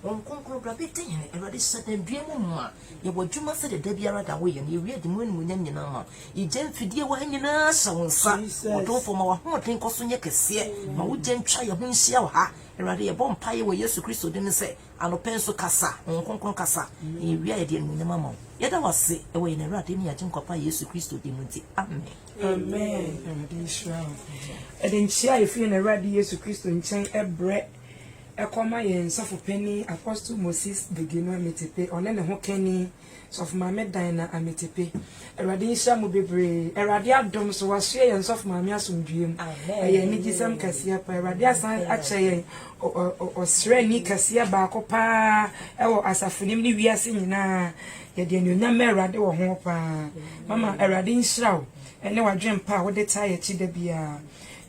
wɔn kronkron bra bɛdi hene awurade hyɛ dɛn dua mu mu a yɛwɔ adwuma sɛ deda biara da woyɛ no yɛwie de mu animonyam nyinaa ma yɛgya mfidie wɔ ha nyinaa hyɛ wo nsa ɔdomfoɔ ma wahoɔden kɔ so nyɛ kɛseɛ ma wogya ntwa yɛ ho nhyia wɔ ha Awurade, yɛbɔ mpaeɛ wɔ Yesu Kristo din mu sɛ anɔpa yi nso kasa, Honhom Kronkron kasa, na yɛwie a yɛde animuonyam ama wo. Yɛda wo ase wɔ yɛn Awurade ne yɛn Agyenkwa pa Yesu Kristo din mu nti, amen. Amen. Awurade nhyira wo. Yɛde nkyea a ɛfiri yɛn Awurade Yesu Kristo nkyɛn brɛ kɔma yɛn Sɔfo Panin Apostle Moses Degeno Ametepe, ɔne ne hokani, Sɔfo maame Dinah Amitepe Awurade nhyira mo bebree Awurade adom so wasoɛ yɛn sɔfo maame asomdwoeɛ mu ɛyɛ anigyesɛm kɛseɛ paa Awurade asan akyɛ yɛn ɔsrɛni kɛseɛ baako paa ɛwɔ asafo nim ne wiase nyinaa yɛde anuonyam ma Awurade wɔ ho paa mama Awurade nhyira wo ɛne wadwen pa a wode taa yɛ akyi da biara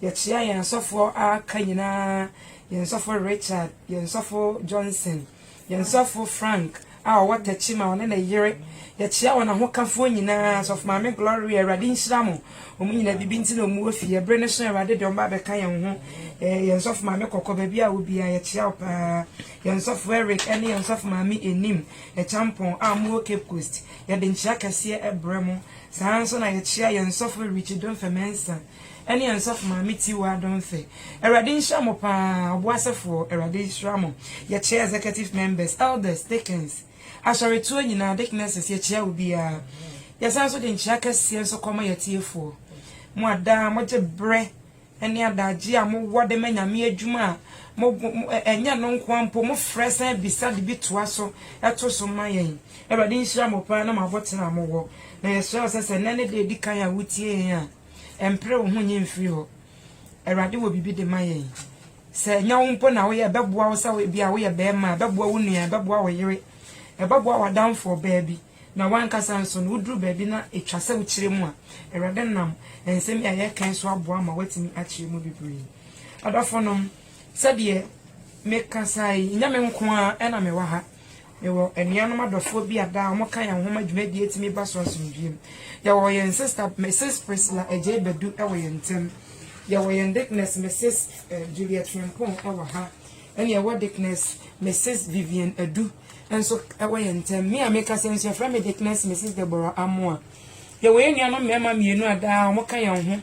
yɛkyea yɛn asɔfoɔ a aka nyinaa yɛn sɔfo Richard yɛn sɔfo Johnson Yɛn sɔfo Frank a ɔwɔ Tachima, ɔne ne yere, yɛkyea wɔn ahokafoɔ nyinaa, sɔfo maame Gloria, Awurade nhyira mo, wɔn nyinaa bibi nti na wɔn wɔ fie, ɛbere no so Awurade de wɔn ba abɛka yɛn ho, eh, yɛn sɔfo maame Kɔkɔ, baabi a wo biara, yɛkyea wo paa, yɛn sɔfo Eric ɛne yɛn sɔfo maame Enim, Ɛkyampɔn, a wɔn wɔ Cape Coast, yɛde nkyea kɛseɛ ɛbrɛ mo, saa ara nso na yɛkyea yɛn sɔfo Richie Domfɛ Mensah. ɛne yɛn sɔfo maame Tiwa Adonfe. Awurade nhyira mo paa ɔbo asɛfoɔ, Awurade nhyira mo. Yɛkyea executive members, elders, deacons, asɔretoɔ nyinaa, deaconesses, yɛkyea obiara. Yɛsan nso de nkyea kɛseɛ nso kɔma yɛatiefoɔ. Mo a daa mogye berɛ ne adagyeɛ a mowɔ de ma Nyame adwuma a mo, mo, ɛ, ɛnyɛ no nkoa mpo, mofrɛ san bisa de bi toa so to so ma yɛn. Awurade nhyira mo paa ne mo aboterɛ a mowɔ. Na yɛsrɛ wo sɛ sɛ nnɛ ne da a ɛdi kan a wotie yɛn a, Mpere wo ho nyi mfiri hɔ. Awurade wɔ biribi de ma yɛn. Sɛ ɛnyɛ wo mpo na woyɛ, ɛbɛboa wo sɛ ebi a woyɛ bɛrima, ɛbɛboa wo nua, ɛbɛboa wo yere, ɛbɛboa w'adamfoɔ baa bi, na w'ankasa nso no, woduru baabi na ɛtwa sɛ wokyerɛ mu a, Awurade nam nsɛm yi a yɛreka yi so aboa ma woatumi akyerɛ mu bebree. Adɔfonom, sɛdeɛ mekasa yi, nyɛ me nko ara na mewɔ ha. Mewɔ anuanom adɔfoɔ bi a daa wɔka yɛn ho ma dwumadie tumi ba so asomdwoeɛ mu. Yɛwɔ yɛn sista Misis Priscilla Adjei Badu wɔ yɛn ntam. Yɛwɔ yɛn Dikinɛse Misis Juliet Frimpong wɔ ha, ɛna yɛwɔ Dikinɛse Misis Vivian Adu nso wɔ yɛn ntam. Me a mekasa yi nso yɛfrɛ me Dikinɛse Misis Deborah Amoah. Yɛwɔ yɛn nuanom mmarima mmienu a daa wɔka yɛn ho,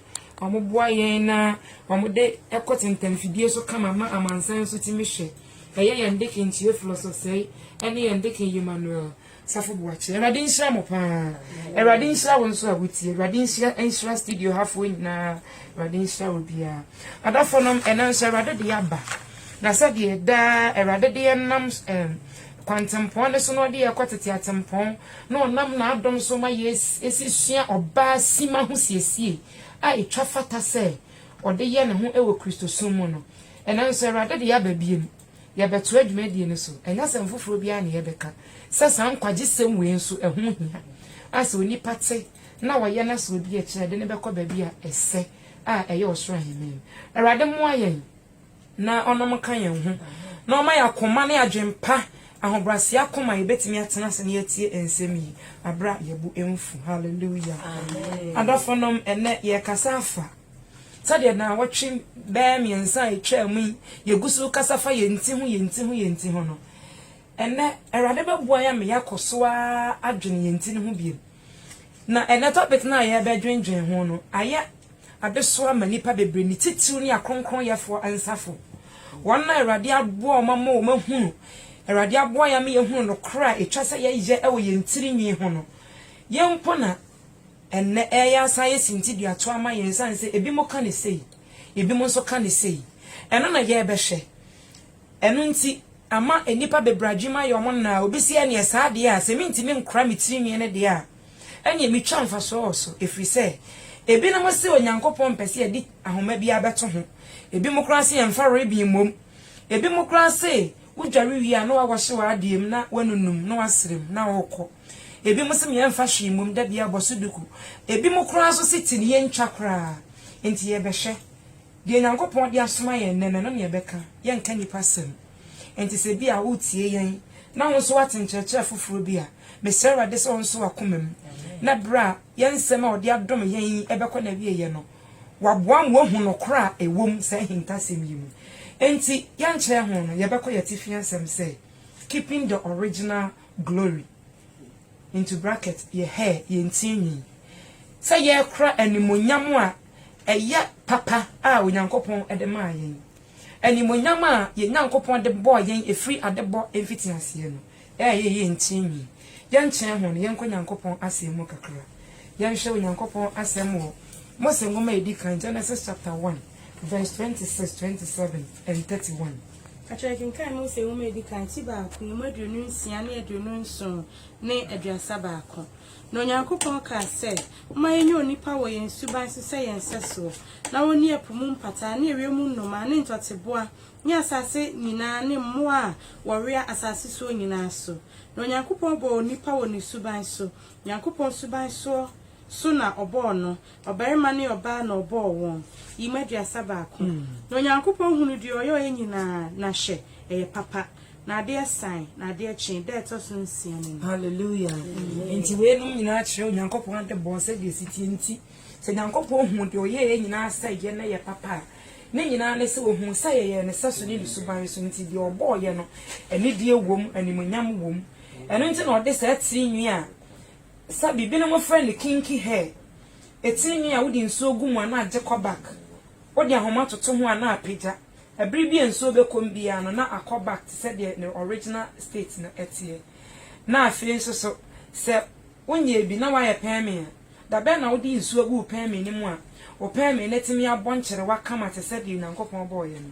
wɔboa yɛn na wɔde kɔ tentamfidie so kama ma amansan nso tumi hwɛ. Ɛyɛ yɛn Deacon Theophilus Osei ɛne yɛn Deacon Emmanuel Safo Boakye. Awurade nhyira mo paa. Awurade nhyira wo nso a wotie. Awurade nhyira nhyira studio hafoɔ nyinaa. Awurade nhyira wo biara. Adɔfo nom ɛnɛ nso Awurade de aba. Na sɛdeɛ daa Awurade de yɛn nam ɛm kwantempɔn ne so na ɔde yɛ kɔ tete atempɔn na ɔnam n'adom so ma yɛ esi sua ɔbaa sima ho siesie a etwa fata sɛ ɔde yɛ ne ho wɔ Kristosom mu no. Ɛnnɛ nso, Awurade de yɛaba bio. Yɛbɛtoa dwumadie no so. Ɛnyɛ asɛm foforɔ biara na yɛbɛka sɛ saa nkwagyesɛm wei nso, ɛho hia a sɛ onipa te na ɔyɛ na sɛ ɔdi akyi a ɛde no bɛkɔ baabi a ɛsɛ a ɛyɛ ɔsoro ahennie no. Awurade mmoa yɛn na ɔnom nka yɛn ho na ɔmma yɛn akoma ne adwene pa, ahobrɛaseɛ akoma a yɛbɛtumi atena ase na yɛatie nsɛm yi berɛ a yɛbo mfu. Hallelujah. Adɔfonom, ɛnnɛ yɛrekasa afa Sɛdeɛ nnawɔtwe bɛyɛ mmiɛnsa a ɛtwaa mu yi yɛgu so rekasa fa yɛn ti ho, yɛn ti ho, yɛn ti ho no, ɛnnɛ Awurade bɛboa yɛn ama yɛakɔ so ara adwene yɛn ti no ho bio. Na ɛnnɛ topic no a yɛrebɛdwendwen ho no ayɛ adesoa ma nnipa bebree, ne titiriw ne akronkronnyɛfoɔ ansafo, wɔn a Awurade aboa wɔn ama wɔahunu, Awurade aboa yɛn ama yɛahunu nokorɛ a ɛtwa sɛ yɛyɛ wɔ yɛn tirinwi ho no. Yɛn mpo na. Ɛnnɛ, ɛreyɛ asan ayɛ sintidua to ama yɛn esiane sɛ ebinom ka no sei, ebinom nso ka no sei. Ɛno na yɛrebɛhwɛ. Ɛno nti, ama nnipa bebree adwenem ayɛ wɔn nã a obi se ɛnneɛ saa deɛ a, sɛ mentumi nkora me tirinwi no deɛ a, ɛnneɛ metwa mfasoɔ wɔ so, ɛfiri sɛ ebinom se Onyankopɔn mpɛ sɛ yɛde ahoma biara bɛto ho, ebinom koraa se yɛmfa ribbon mmom, ebinom koraa se wodware wie a na woawɔhye w'adeɛ mu na woanunum na woasere mu na worekɔ. Ebinom se yɛmfa hwee mmom da biara bɔ so duku. Ebinom koraa nso se ti no yentwa koraa. Enti yɛbɛhwɛ. Deɛ Onyankopɔn de asoma yɛn nnɛ no, ɛno na yɛbɛka. Yɛnka nnipa asɛm. Enti sɛ ebia woretie yɛn na wo nso woate nkyerɛkyerɛ foforɔ bi a, mesrɛ Awurade sɛ ɔnso w'akoma mu, na berɛ a yɛn nsɛm a ɔde adom yɛn yi bɛkɔ n'awieeɛ no, waboa ma woahu nokorɛ a ɛwɔ mu saa ahintasɛm yi mu. Enti yɛnkyerɛ ho no, yɛbɛkɔ yɛn atifi asɛm sɛ, Keeping the Original glory, into bracket, yɛ hair, yɛn tirinwi, sɛ yɛrekora animuonyam a ɛyɛ papa a Onyankopɔn de maa yɛn, animuonyam a yɛn Nyankopɔn de bɔɔ yɛn ɛfiri adebɔ mfitiaseɛ no, ɛyɛ yɛn tirinwi. Yɛnkyerɛ ho no, yɛnkɔ Onyankopɔn Asɛm mu kakra. Yɛnhwɛ Onyankopɔn Asɛm wɔ Mose Nwoma a Ɛdi Kan, Genesis chapter one, verse twenty six, twenty seven, and thirty one. Ka kyerɛ, Kenkan Mose Nwoma a Edi Kan, Ti Baako, Emu Aduonu Nsia ne Aduonu Nson ne Aduasa Baako. Na Onyankopɔn kaa sɛ, Momma yɛnyɛ onipa wɔ yɛn suban so sɛ yɛn sɛsoɔ, na ɔnni ɛpo mu mpataa ne ewiem nnomaa ne ntɔteboa ne asase nyinaa ne mmoa a wɔwea asase soɔ nyinaa so. Na Onyankopɔn bɔɔ onipa wɔ ne suban so, Onyankopɔn suban soɔ so na ɔbɔɔ no, Ɔbarima ne ɔbaa na ɔbɔɔ wɔn, yi mu aduasa baako. Na Onyankopɔn hunuu deɛ ɔyɔeɛ nyina ara, na hwɛ, ɛyɛ papa. Na adeɛ sae, na adeɛ kyee, da a ɛtɔ so nsia no mu. Hallelujah! Enti wei nom nyina ara kyerɛ Onyankopɔn adebɔ sɛdeɛ ɛsi teɛ nti, sɛ Onyankopɔn huu deɛ ɔyɛeɛ nyina ara sɛ ɛyɛ na ɛyɛ papa a, ne nyina ara ne sɛ ɔhuu sɛ yɛyɛɛ ne sɛso ne ne suban so nti, deɛ ɔbɔeɛ no, anidie wɔ mu, animuonyam wɔ mu. Ɛno nti na ɔde saa tiri nwi a Sa bi, binom frɛ no kinky hair, etini nwi a wode nsuo gu mu a na agye kɔ back. Wode ahoma toto ho a na apagya. Ɛbere bi a nsuo bɛkɔ mu biara no na akɔ back te sɛ deɛ ne original state no teɛ. Na afei nso so, sɛ wonyɛɛ bi na woayɛ pɛɛmee a, da bɛn na wode nsuo gu wo pɛɛmee no mu a wo pɛɛmee no atumi abɔ nkyerewa kama te sɛ deɛ Onyankopɔn bɔeɛ no?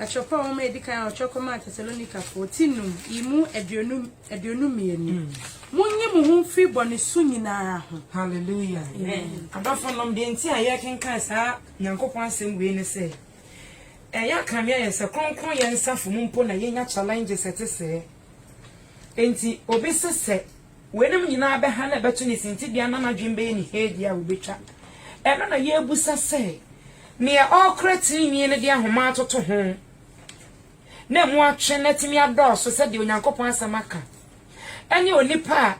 Atwerɛpɔn nwoma a ɛdi kan a wɔtwerɛ kɔmaa Tesalonikafoɔ, ti num, yi mu aduonu, aduonu mmienu. Monyi mo ho mfiri bɔne su nyina ara ho. Hallelujah. Amen. Adɔfonom, deɛ nti a yɛrekenkan saa Nyankopɔn asɛm wei ne sɛ, ɛyɛ akame ayɛ sɛ kronkronyɛ nsafo mu mpo na yɛnya challenges ɛte sɛɛ. Enti, obi se sɛ Weinom nyinaa bɛha na ɛbɛto ne sintidua na n'adwene bɛyɛ ne heedi a obetwa. Ɛno na yebisa sɛ, Nea ɔrekora trenee no de ahoma atoto ho na emu atwe na atumi adɔɔso sɛdeɛ Onyankopɔn Asɛm aka, ɛne onipa a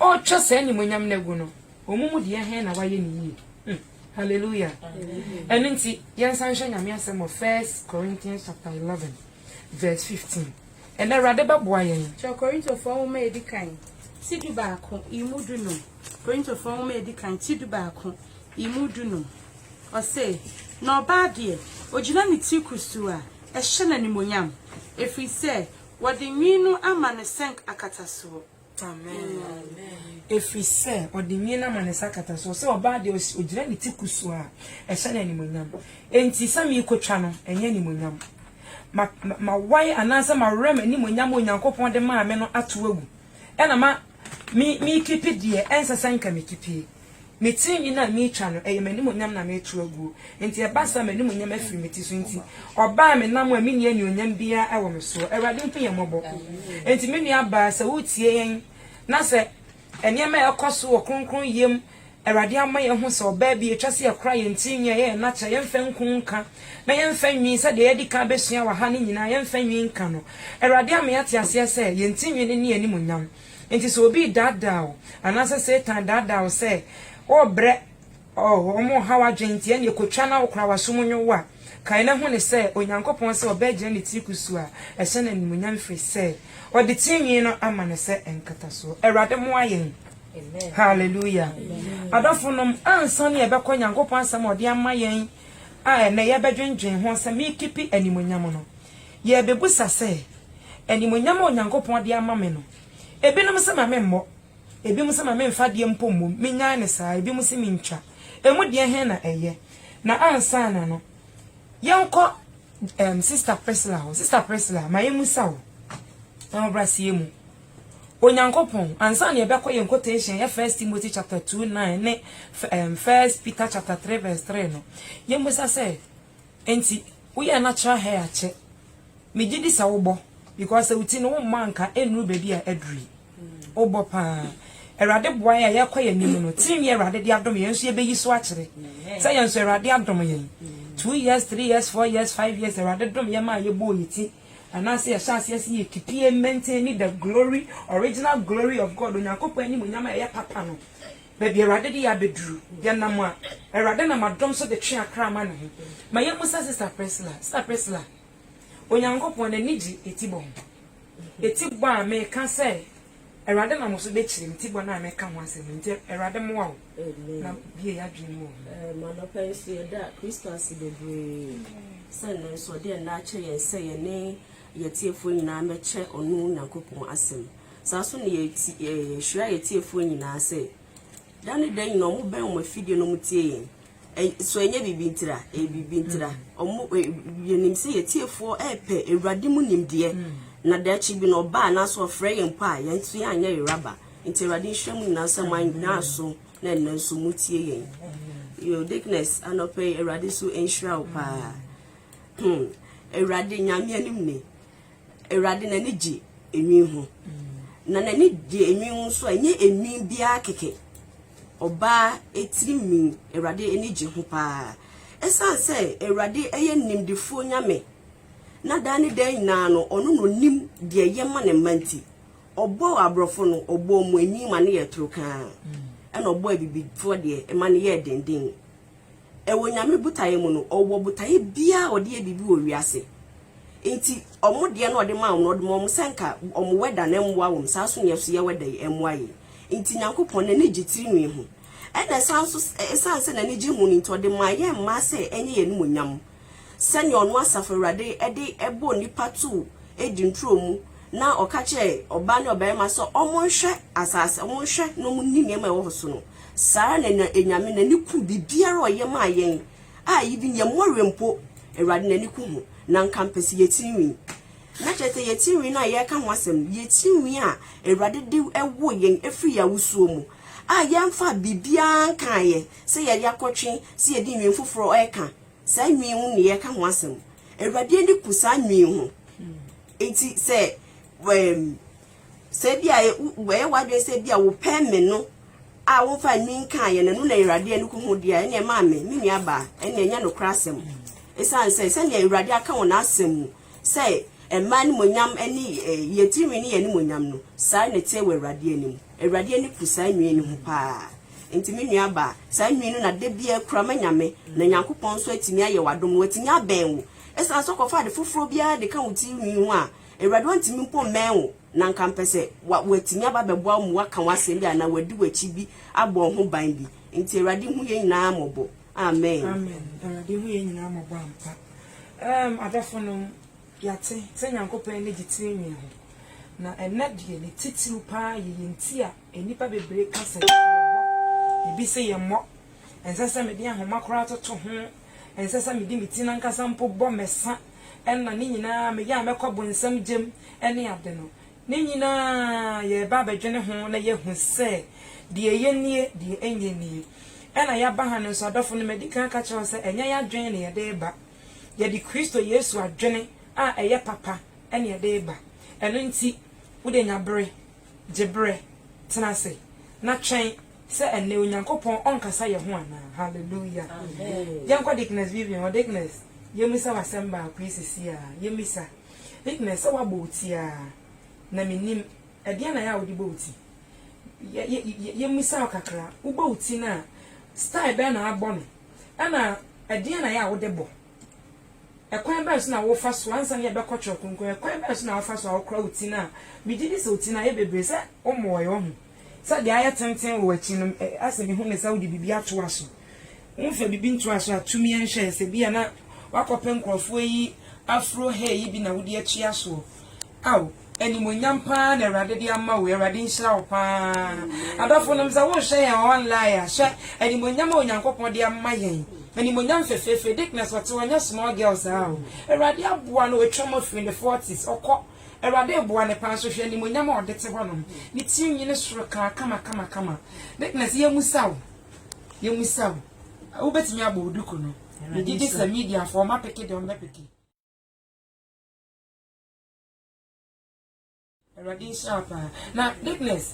ɔretwa saa animuonyam no agu no, wɔn mu deɛ he na wayɛ no yie? Hmm. Hallelujah. Ɛno nti, yɛnsan nhwɛ Nyame Asɛm wɔ First Corinthians chapter 11. vs. 15, Ɛnnɛ Awurade bɛboa yɛn. Kyerɛw Korintofoɔ Nwoma a Edi Kan, Ti Dubaako, Imu Dunum. Korintofoɔ Nwoma a Edi Kan, Ti Dubaako, Imu Dunum. Ɔse, Na ɔbaa deɛ ogyina ne tiri kustuu a, ɛhyɛ no animuonyam, efiri sɛ wɔde nwii no ama no sɛnk akatasoɔ. Ɛfiri sɛ ɔde nwini ama ne nsa akata so, sɛ ɔbaa deɛ ɔgyina ne ti kusuu a, ɛhyɛ no animuonyam. Enti sɛ merekɔtwa no, ɛnyɛ animuonyam. Ma, ma, mawae anaasɛ mawerɛ m'animuonyam a Onyankopɔn de maa me no ato agu, ɛna ma, me, merekipi deɛ ɛnsɛ sɛ anka mekipie. Me tirinwi no a meretwa no, ɛyɛ m'animuonyam na mereto aguo, enti ɛba saa a, m'animuonyam afiri me ti so nti, ɔbaa me nam a menni anuonyam biara wɔ me soɔ. Awurade hu yɛn mmɔbɔ. Enti me nuabaa, sɛ woretie yɛn, na sɛ nneɛma a ɛrekɔ so wɔ kronkronyɛ mu, Awurade ama yɛahu sɛ ɔbaa bi a ɛtwa sɛ yɛkora yɛn tirinwi a ɛyɛ yɛn akyɛ, yɛmfa nku nka, na yɛmfa nwi, sɛdeɛ yɛadi kan abɛsua wɔ ha no nyinaa, yɛmfa nwi nka no. Awurade ama yɛate aseɛ sɛ, yɛn tirinwi no ne yɛn animuonyam. Enti sɛ obi redaadaa wo, anaasɛ Satan redaadaa wo sɛ worebrɛ wɔn, ɔhaw adwene nti, ɛnneɛ kɔtwa na wokora w'aso mu nwowo a, kae na hu no sɛ Onyankopɔn sɛ ɔbɛgyina ne tiri kusuu a ɛhyɛ no animuonyam ɛfiri sɛ ɔde tirinwi no ama no sɛ nkatasoɔ. Awurade mmoa yɛn. Hallelujah. Adɔfonom, ansa na yɛbɛkɔ Nyankopɔn asɛm a ɔde ama yɛn a ɛnnɛ yɛbɛdwendwen ho sɛ merekipi animuonyam no, Yɛrebisa sɛ, Animuonyam a Onyankopɔn de ama me no, ebinom se ma memmɔ, ebinom se ma memfa adeɛ mpo mmom, mennyae no saa, ebinom se mentwa. Emu deɛ he na ɛyɛ? Na ansaana no, yɛnkɔ ɛɛm Sista Priscilla hɔ. Sista Priscilla, ma yemmisa wo, ahobrɛaseɛ mu, Onyankopɔn, ansaana yɛbɛkɔ yɛn quotation a ɛyɛ First Timothy chapter two nine ne ɛɛm First Peter chapter three verse three no, yemmisa sɛ, Enti woyɛ natural hair akyɛ. Megye di sɛ wobɔ because sɛ wo ti no wommɔ anka ɛnnuru baabi a aduru yi. Wobɔ paa. Awurade boa yɛn a yɛkɔ yɛn anim no, tirinwi a Awurade de adom yɛn nso yɛbɛyi so akyerɛ sɛ yɛn nso Awurade adom yɛn. Two years, three years, four years, five years, Awurade dom yɛn maa yɛbɔɔ yɛn ti anaasɛ yɛhyɛ aseɛ sɛ yɛ keep yɛ maintain the glory, original glory of God, Onyankopɔn animuonyam a ɛyɛ papa no. Baabi a Awurade de yɛn abɛduru, yɛnam a, Awurade nam adom so de twe akra ma Ne ho. Ma yɛmmisa Sista Priscilla, Sista Priscilla, Onyankopɔn N'ani gye etibɔ ho? Etibɔ a meka sɛ Awurade nam wo so bɛkyerɛ me, tibɔ no a meka ho asɛm no, nti Awurade mmoa wo na bue y'adwene mu wɔ ho. Ɛm, anɔpa yi nso yɛda Kristo ase bebree sɛ nnɛ nso ɔde ɛnnɛ akyɛ yɛn sɛ yɛne yɛn atiefoɔ nyinaa mmɛkyɛ Ɔno Nyankopɔn asɛm. Saa nso na yɛhyira yɛn atiefoɔ nyinaa sɛ, da ne da nyinaa wɔbɛn wɔn afidie na wɔtie yɛn. So ɛnyɛ biribi ntira? Ɛyɛ biribi ntira. Yɛnim sɛ yɛn atiefoɔ repɛ Awurade mu nimdeɛ, na daakye bi no ɔba anaasɛ ɔfrɛ yɛn mpo a, yɛn nso yɛanyɛ yera ba. Nti Awurade nhyira mo nyinaa sɛ moanyina aso na ɛnnɛ nso motie yɛn. Yo Dickness, anɔpa yi Awurade nso nhyira wo paa. Hmm, Awurade Nyame anim ni. Awurade n'ani gye enwin ho, na n'ani gye enwin ho nso a, ɛnyɛ enwin biara kɛkɛ. Ɔbaa tirinwi, Awurade ani gye ho paa. Ɛsiane sɛ Awurade yɛ nimdefoɔ Nyame, na daa ne daa nyinaa no, ɔno na ɔnim deɛ ɛyɛ ma ne mma nti, ɔbɔɔ aborɔfo no, ɔbɔɔ wɔn enwin ma no yɛɛ toro kann, ɛna ɔbɔɔ abibifoɔ deɛ, ɛma no yɛɛ denden. Wɔ Nyame botaeɛ mu no, ɔwɔ botaeɛ biara a ɔde yɛ biribi wɔ wiase. Nti ɔmo deɛ no a ɔde maa ɔmo no, ɔde ma ɔmo sɛ nka ɔmo wɛda no mmoa wɔn, saa nso na yɛ so yɛ wɛda yi mmoa yɛn. Nti Nyankopɔn n'ani gye tiri nwi ho. Ɛna ɛsan nso, ɛsiane sɛ n'ani gye ho no nti, ɔde maa yɛn mmaa sɛ ɛnyɛ yɛn animuonyam. sɛnea ɔno Asafo Awurade de bɔɔ nnipa too Eden turo mu na ɔka kyerɛɛ ɔbaa ne ɔbarima sɛ wɔnhwɛ asase, wɔnhwɛ na wɔnni nneɛma a ɛwɔ hɔ so no, saa ara na Nyame n'ani ku biribiara a ɔyɛ maa yɛn a even yɛn mmɔwerɛ mpo, Awurade n'ani ku ho. Na anka mpɛ sɛ yɛn tirinwi, na kyerɛ sɛ yɛn tirinwi no a yɛreka ho asɛm no, yɛn tirinwi a Awurade de woo yɛn firi yɛn awosuo mu a yɛmfaa biribiara nkaeɛ sɛ yɛde akɔtwe sɛ yɛde nnwin foforɔ reka, Saa nwi ho ne yɛka ho asɛm. Awurade ani ku saa nwi ho. Nti sɛ ɛɛm sɛ bi a ɛyɛ w'adwene sɛ bi a wopɛ me no a womfa nwi nkaa yɛ na ɛno na Awurade ani ku ho deɛ a ɛneɛ maa me me nua baa ɛneɛ nyɛ nokorɛ asɛm. Ɛsiane sɛ sɛdeɛ Awurade aka wɔ n'asɛm mu sɛ mmaa animuonyam ne yɛn tirinwi ne yɛn animuonyam no saa na ɛteɛ wɔ Awurade anim. Awurade ani ku saa nwi no ho paa. Enti me nua baa, saa nwii no na da biara kura ma Nyame, na Nyankopɔn nso atumi ayɛ wo adom, na watumi abɛn wo. Esiane sɛ ɔkɔfa ade foforɔ biara de ka wo tiri nwii ho a, Awurade ɔntumi mpo mmɛn wo, na nka mpɛ sɛ wa, watumi aba abɛboa wo ma waka wo asɛm bi anaa wadi w'akyi bi abɔ wo ho ban bi. Enti Awurade hu yɛn nyinaa mmɔbɔ. Amen. Amen. Awurade hu yɛn nyinaa mmɔbɔ ampa. Erm adɔfonom, yɛate sɛ Nyankopɔn ani gye tiri nwii ho, na ɛnnɛ deɛ ne titiriw paa yɛ yɛn ti a, Nnipa bebree ka sɛ yɛbɔ, ebi se yɛmmɔ, ɛnsɛ sɛ mede ahoma koraa toto ho, ɛnsɛ sɛ mede me ti no ankasa mpo bɔ, mɛsa, ɛnna ne nyinaa meyɛ a mɛkɔ bonsam gyam ne ade no. Ne nyinaa yɛreba abɛdwene ho na yɛahu sɛ deɛ ɛyɛ nie, deɛ ɛnyɛ nie. Ɛnna yɛaba ha no nso, adɔfo no, madi kan aka kyerɛ wo sɛ ɛnyɛ yɛadwene na yɛde reba. Yɛde Kristo Yesu adwene a ɛyɛ papa na yɛde reba. Ɛno nti, wo deɛ nya bere Gye bere, tena ase, na twɛn sɛ ɛnnɛ Onyankopɔn ɔnkasa yɛn ho anaa. Hallelujah! Yɛnkɔ Deaconess Vivian hɔ. Deaconess, yemmisa wo asɛm baako yi seesei ara. Yemmisa. Deaconess, sɛ woabɔ wo ti ara, na minnim, ɛdeɛn na ɛyɛ a wode bɔ wo ti? Yɛ, yɛ, yɛ, yemmisa wo kakra. Wobɔ wo ti no a, style bɛn na wabɔ no? Ɛna ɛdeɛn na ɛyɛ a wode bɔ? Ɛkwan bɛn so na wofa so, ansa na yɛbɛkɔ Twerɛ Kronkron no, ɛkwan bɛn so na wofa so a wokora wo ti no a, megye di sɛ wo ti no ayɛ bebree, sɛ wommɔɔɛ, woahu sɛ deɛ ayɛ tenten wɔ w'akyi no, asɛ mehu no sɛ wode biribi atoa so, womfa biribi ntoa so a, tu mi nhwɛ, sɛ ebia na woakɔpɛ nkorɔfoɔ ayi afuro hair yi bi na wode atua soɔ. Ao animuonyam paa na awurade de ama wo awurade nhyira wo paa adɔfo nom sɛ wohwɛ yɛn wɔ online a hwɛ animuonyam a onyankopɔn de ama yɛn animuonyam fefeefe dickness ɔte hɔ nyɛ small girl saa o awurade aboa no watwam afiri ne forties ɔkɔ awurade reboa no paa nso hwɛ animuonyam a ɔde te hɔ nom ne tiri nwi ne soro kaa kama kama kama dickness yɛ musa o yɛ musa o wobɛtumi abɔ oduku no megye di sɛ media fo ɔma peke deɛ ɔmbɛ peke. Awurade nhyira paa. Na Dickness,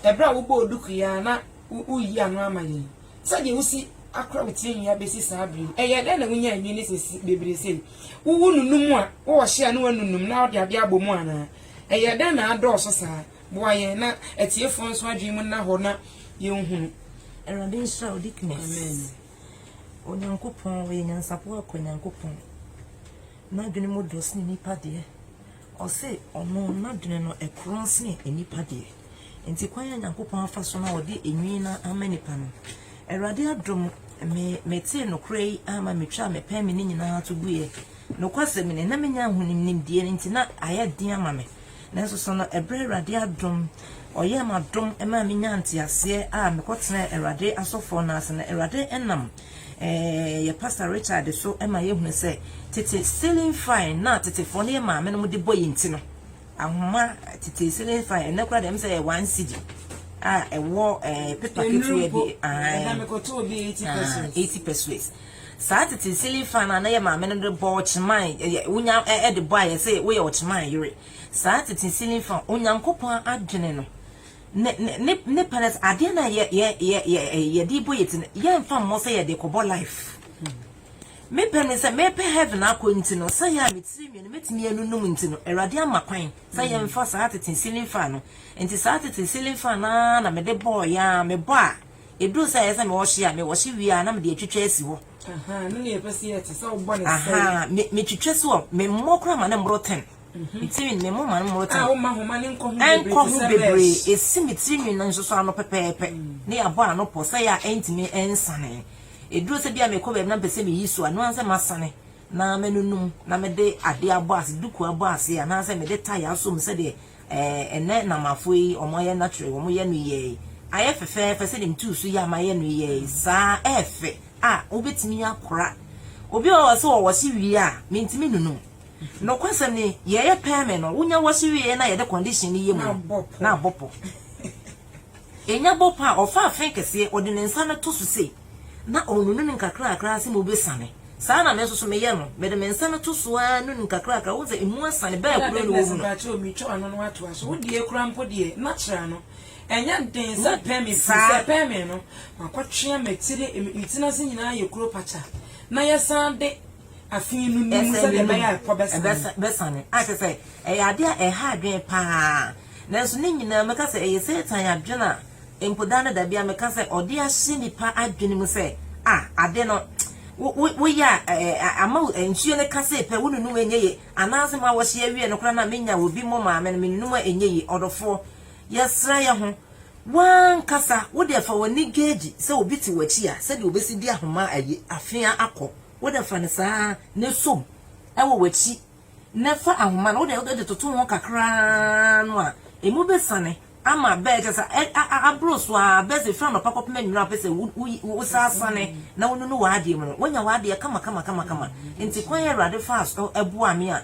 ɛberɛ a wobɔɔ duku yi ara na woreyi ano ama yɛn. Sɛdeɛ wosi akora wo tirinwi abɛsi saa berɛ yi, ɛyɛɛ dɛn na wonyaa nnwinne sɛsi bebree sei? Wo wonunum a, wowɔ ɔhye a ne w'anunum na wode adeɛ abɔ mu anaa? Ɛyɛɛ dɛn na adɔɔso saa? Boa yɛn na atiefoɔ nso adwene mu nna hɔ na yɛnhunu. Awurade nhyira wo Dickness. Amen. Onyankopɔn ɔyɛ nyansafoɔ akɔ Nyankopɔn. N'adwene mu dɔ sene nnipa deɛ. Ɔse ɔno n'adwene no ɛkorɔn sene nnipa deɛ. Nti kwan a Nyankopɔn afa so na ɔde enwii no ama nnipa no, Awurade adom me metee nokorɛ yi ama metwaa me pɛn me ne nyinaa to guiɛ. Nokwasɛm ni, na menya ahonim nimdeɛ no nti na ayɛ den ama me. Nanso so no ɛberɛ Awurade adom ɔyɛɛ m'adom maa menyaa nteaseɛ a mekɔtenaa Awurade asɔfoɔ no ase no, Awurade nam Ɛɛ, yɛ Pastor Richard so ma yɛhunu sɛ tete ceiling fan na tetefoɔ no yɛ maame no de bɔ yɛn ti no, ahoma tete ceiling fan, ɛnɛ koraa deɛ ɛm sɛ yɛ one cd a ɛwɔ ɛɛ pepa ketewa bi, ahan, eighty pesos. Saa tete ceiling fan a na yɛ maame no de bɔ ɔkyeman, ɛyɛ wonya ɛde bɔ a yɛsɛ woyɛ ɔkyeman yere. Saa tete ceiling fan, Onyankopɔn adwene no ne ne ne ne parents adeɛ na yɛ yɛ yɛ yɛ eh, yɛde bɔ yɛ ti no yɛmfa mmɔ sɛ yɛde kɔbɔ life mepɛ ne sɛ mepɛ heaven akɔ nti no sɛ yɛ a metiri mmienu mɛtumi anunum nti no awurade ama kwan sɛ mm. yɛmfa saa tete ceiling fan no nti saa tete ceiling fan naa na mede bɔɔ yɛ a mebɔ a ɛduru sɛ ɛyɛ sɛ mewɔhye a mewɔhye wie a na mede atwitwa asi hɔ metwitwa so a memmɔ kora ma ne mmoro ten Nti me ne mo ma no mmorotan. A woma nhoma no nkɔ ho bebree. Ɛnkɔ ho bebree. Esi me tiri nwi no nso so ano pɛpɛɛpɛ. Ne yɛabɔ ano pɔ sɛ yɛ a ɛntumi nsane. Ɛduru sɛ bi a mekɔ baabi na mepɛ sɛ meyi so a, ɛno ara ne sɛ masane na manunum na mede adeɛ abɔ ase, duku abɔ ase anaasɛ mede tae asɔ mu sɛdeɛ eh, ɛnɛ Namafoɔ yi wɔayɛ natural yi, wɔyɛ no yɛɛ yi. Ayɛ fɛfɛɛfɛ sɛdeɛ metuu so yɛ a mayɛ no yɛɛ yi saa ɛɛfɛ a wobɛtumi akora. Obi a ɔwɔ sɛ ɔwɔ se wie a mentumi nunum. Nokwasɛm ni, yɛyɛ pɛɛmɛ no, wonya w'ase wieɛ na yɛde condition no yɛ mu no, na abɔ pɔ. Enya bɔ pɔ a, ɔfa afe kɛseɛ, ɔde ne nsa no to so sei, na ɔnunu no nkakrakra ara sɛ mu bɛsane. Saa na me nso so meyɛ no, mede me nsa no to so ara nunu nkakrakra, wohu sɛ emu asane, bɛɛ koro no wɔwu no. Saa. afe no ni mu sɛdeɛ ɛbɛyɛ a ɛkɔ bɛsane. bɛsane. A kyerɛ sɛ, ɛyɛ adeɛ a ɛha adwene pa ara. Nanso ne nyinaa mɛka sɛ ɛyɛ Satan adwene a mpo da ne da biara meka sɛ ɔde ahyɛ nnipa adwene mu sɛ, a ade no wo wo woyɛ a ɛ ɛ a ama wo nsuo no ka sei pɛ wonunum a ɛnyɛ yie anaasɛ mo awɔhye awie no koraa no a menya obi mo maame no menunum a ɛnyɛ yie ɔdɔfoɔ yɛsra yɛ ho w'ankasa wode afa w'ani gauge sɛ obi te w'akyi a sɛdeɛ obɛsi de ahoma ayi afea akɔ Wo de fa no saa na som wɔ w'akyi na fa ahoma no, wo de wode toto ho kakra ara no a, emu bɛsiane ama bɛ, kyerɛ sɛ, aboro so ara, bɛ dze, firi anɔpa kɔpem anwumerɛ a wopɛ sɛ wosasane na wonunu w'adeɛ mu no, woanya w'adeɛ kama kama kama kama. Enti kwan a Awurade faa so boaa me a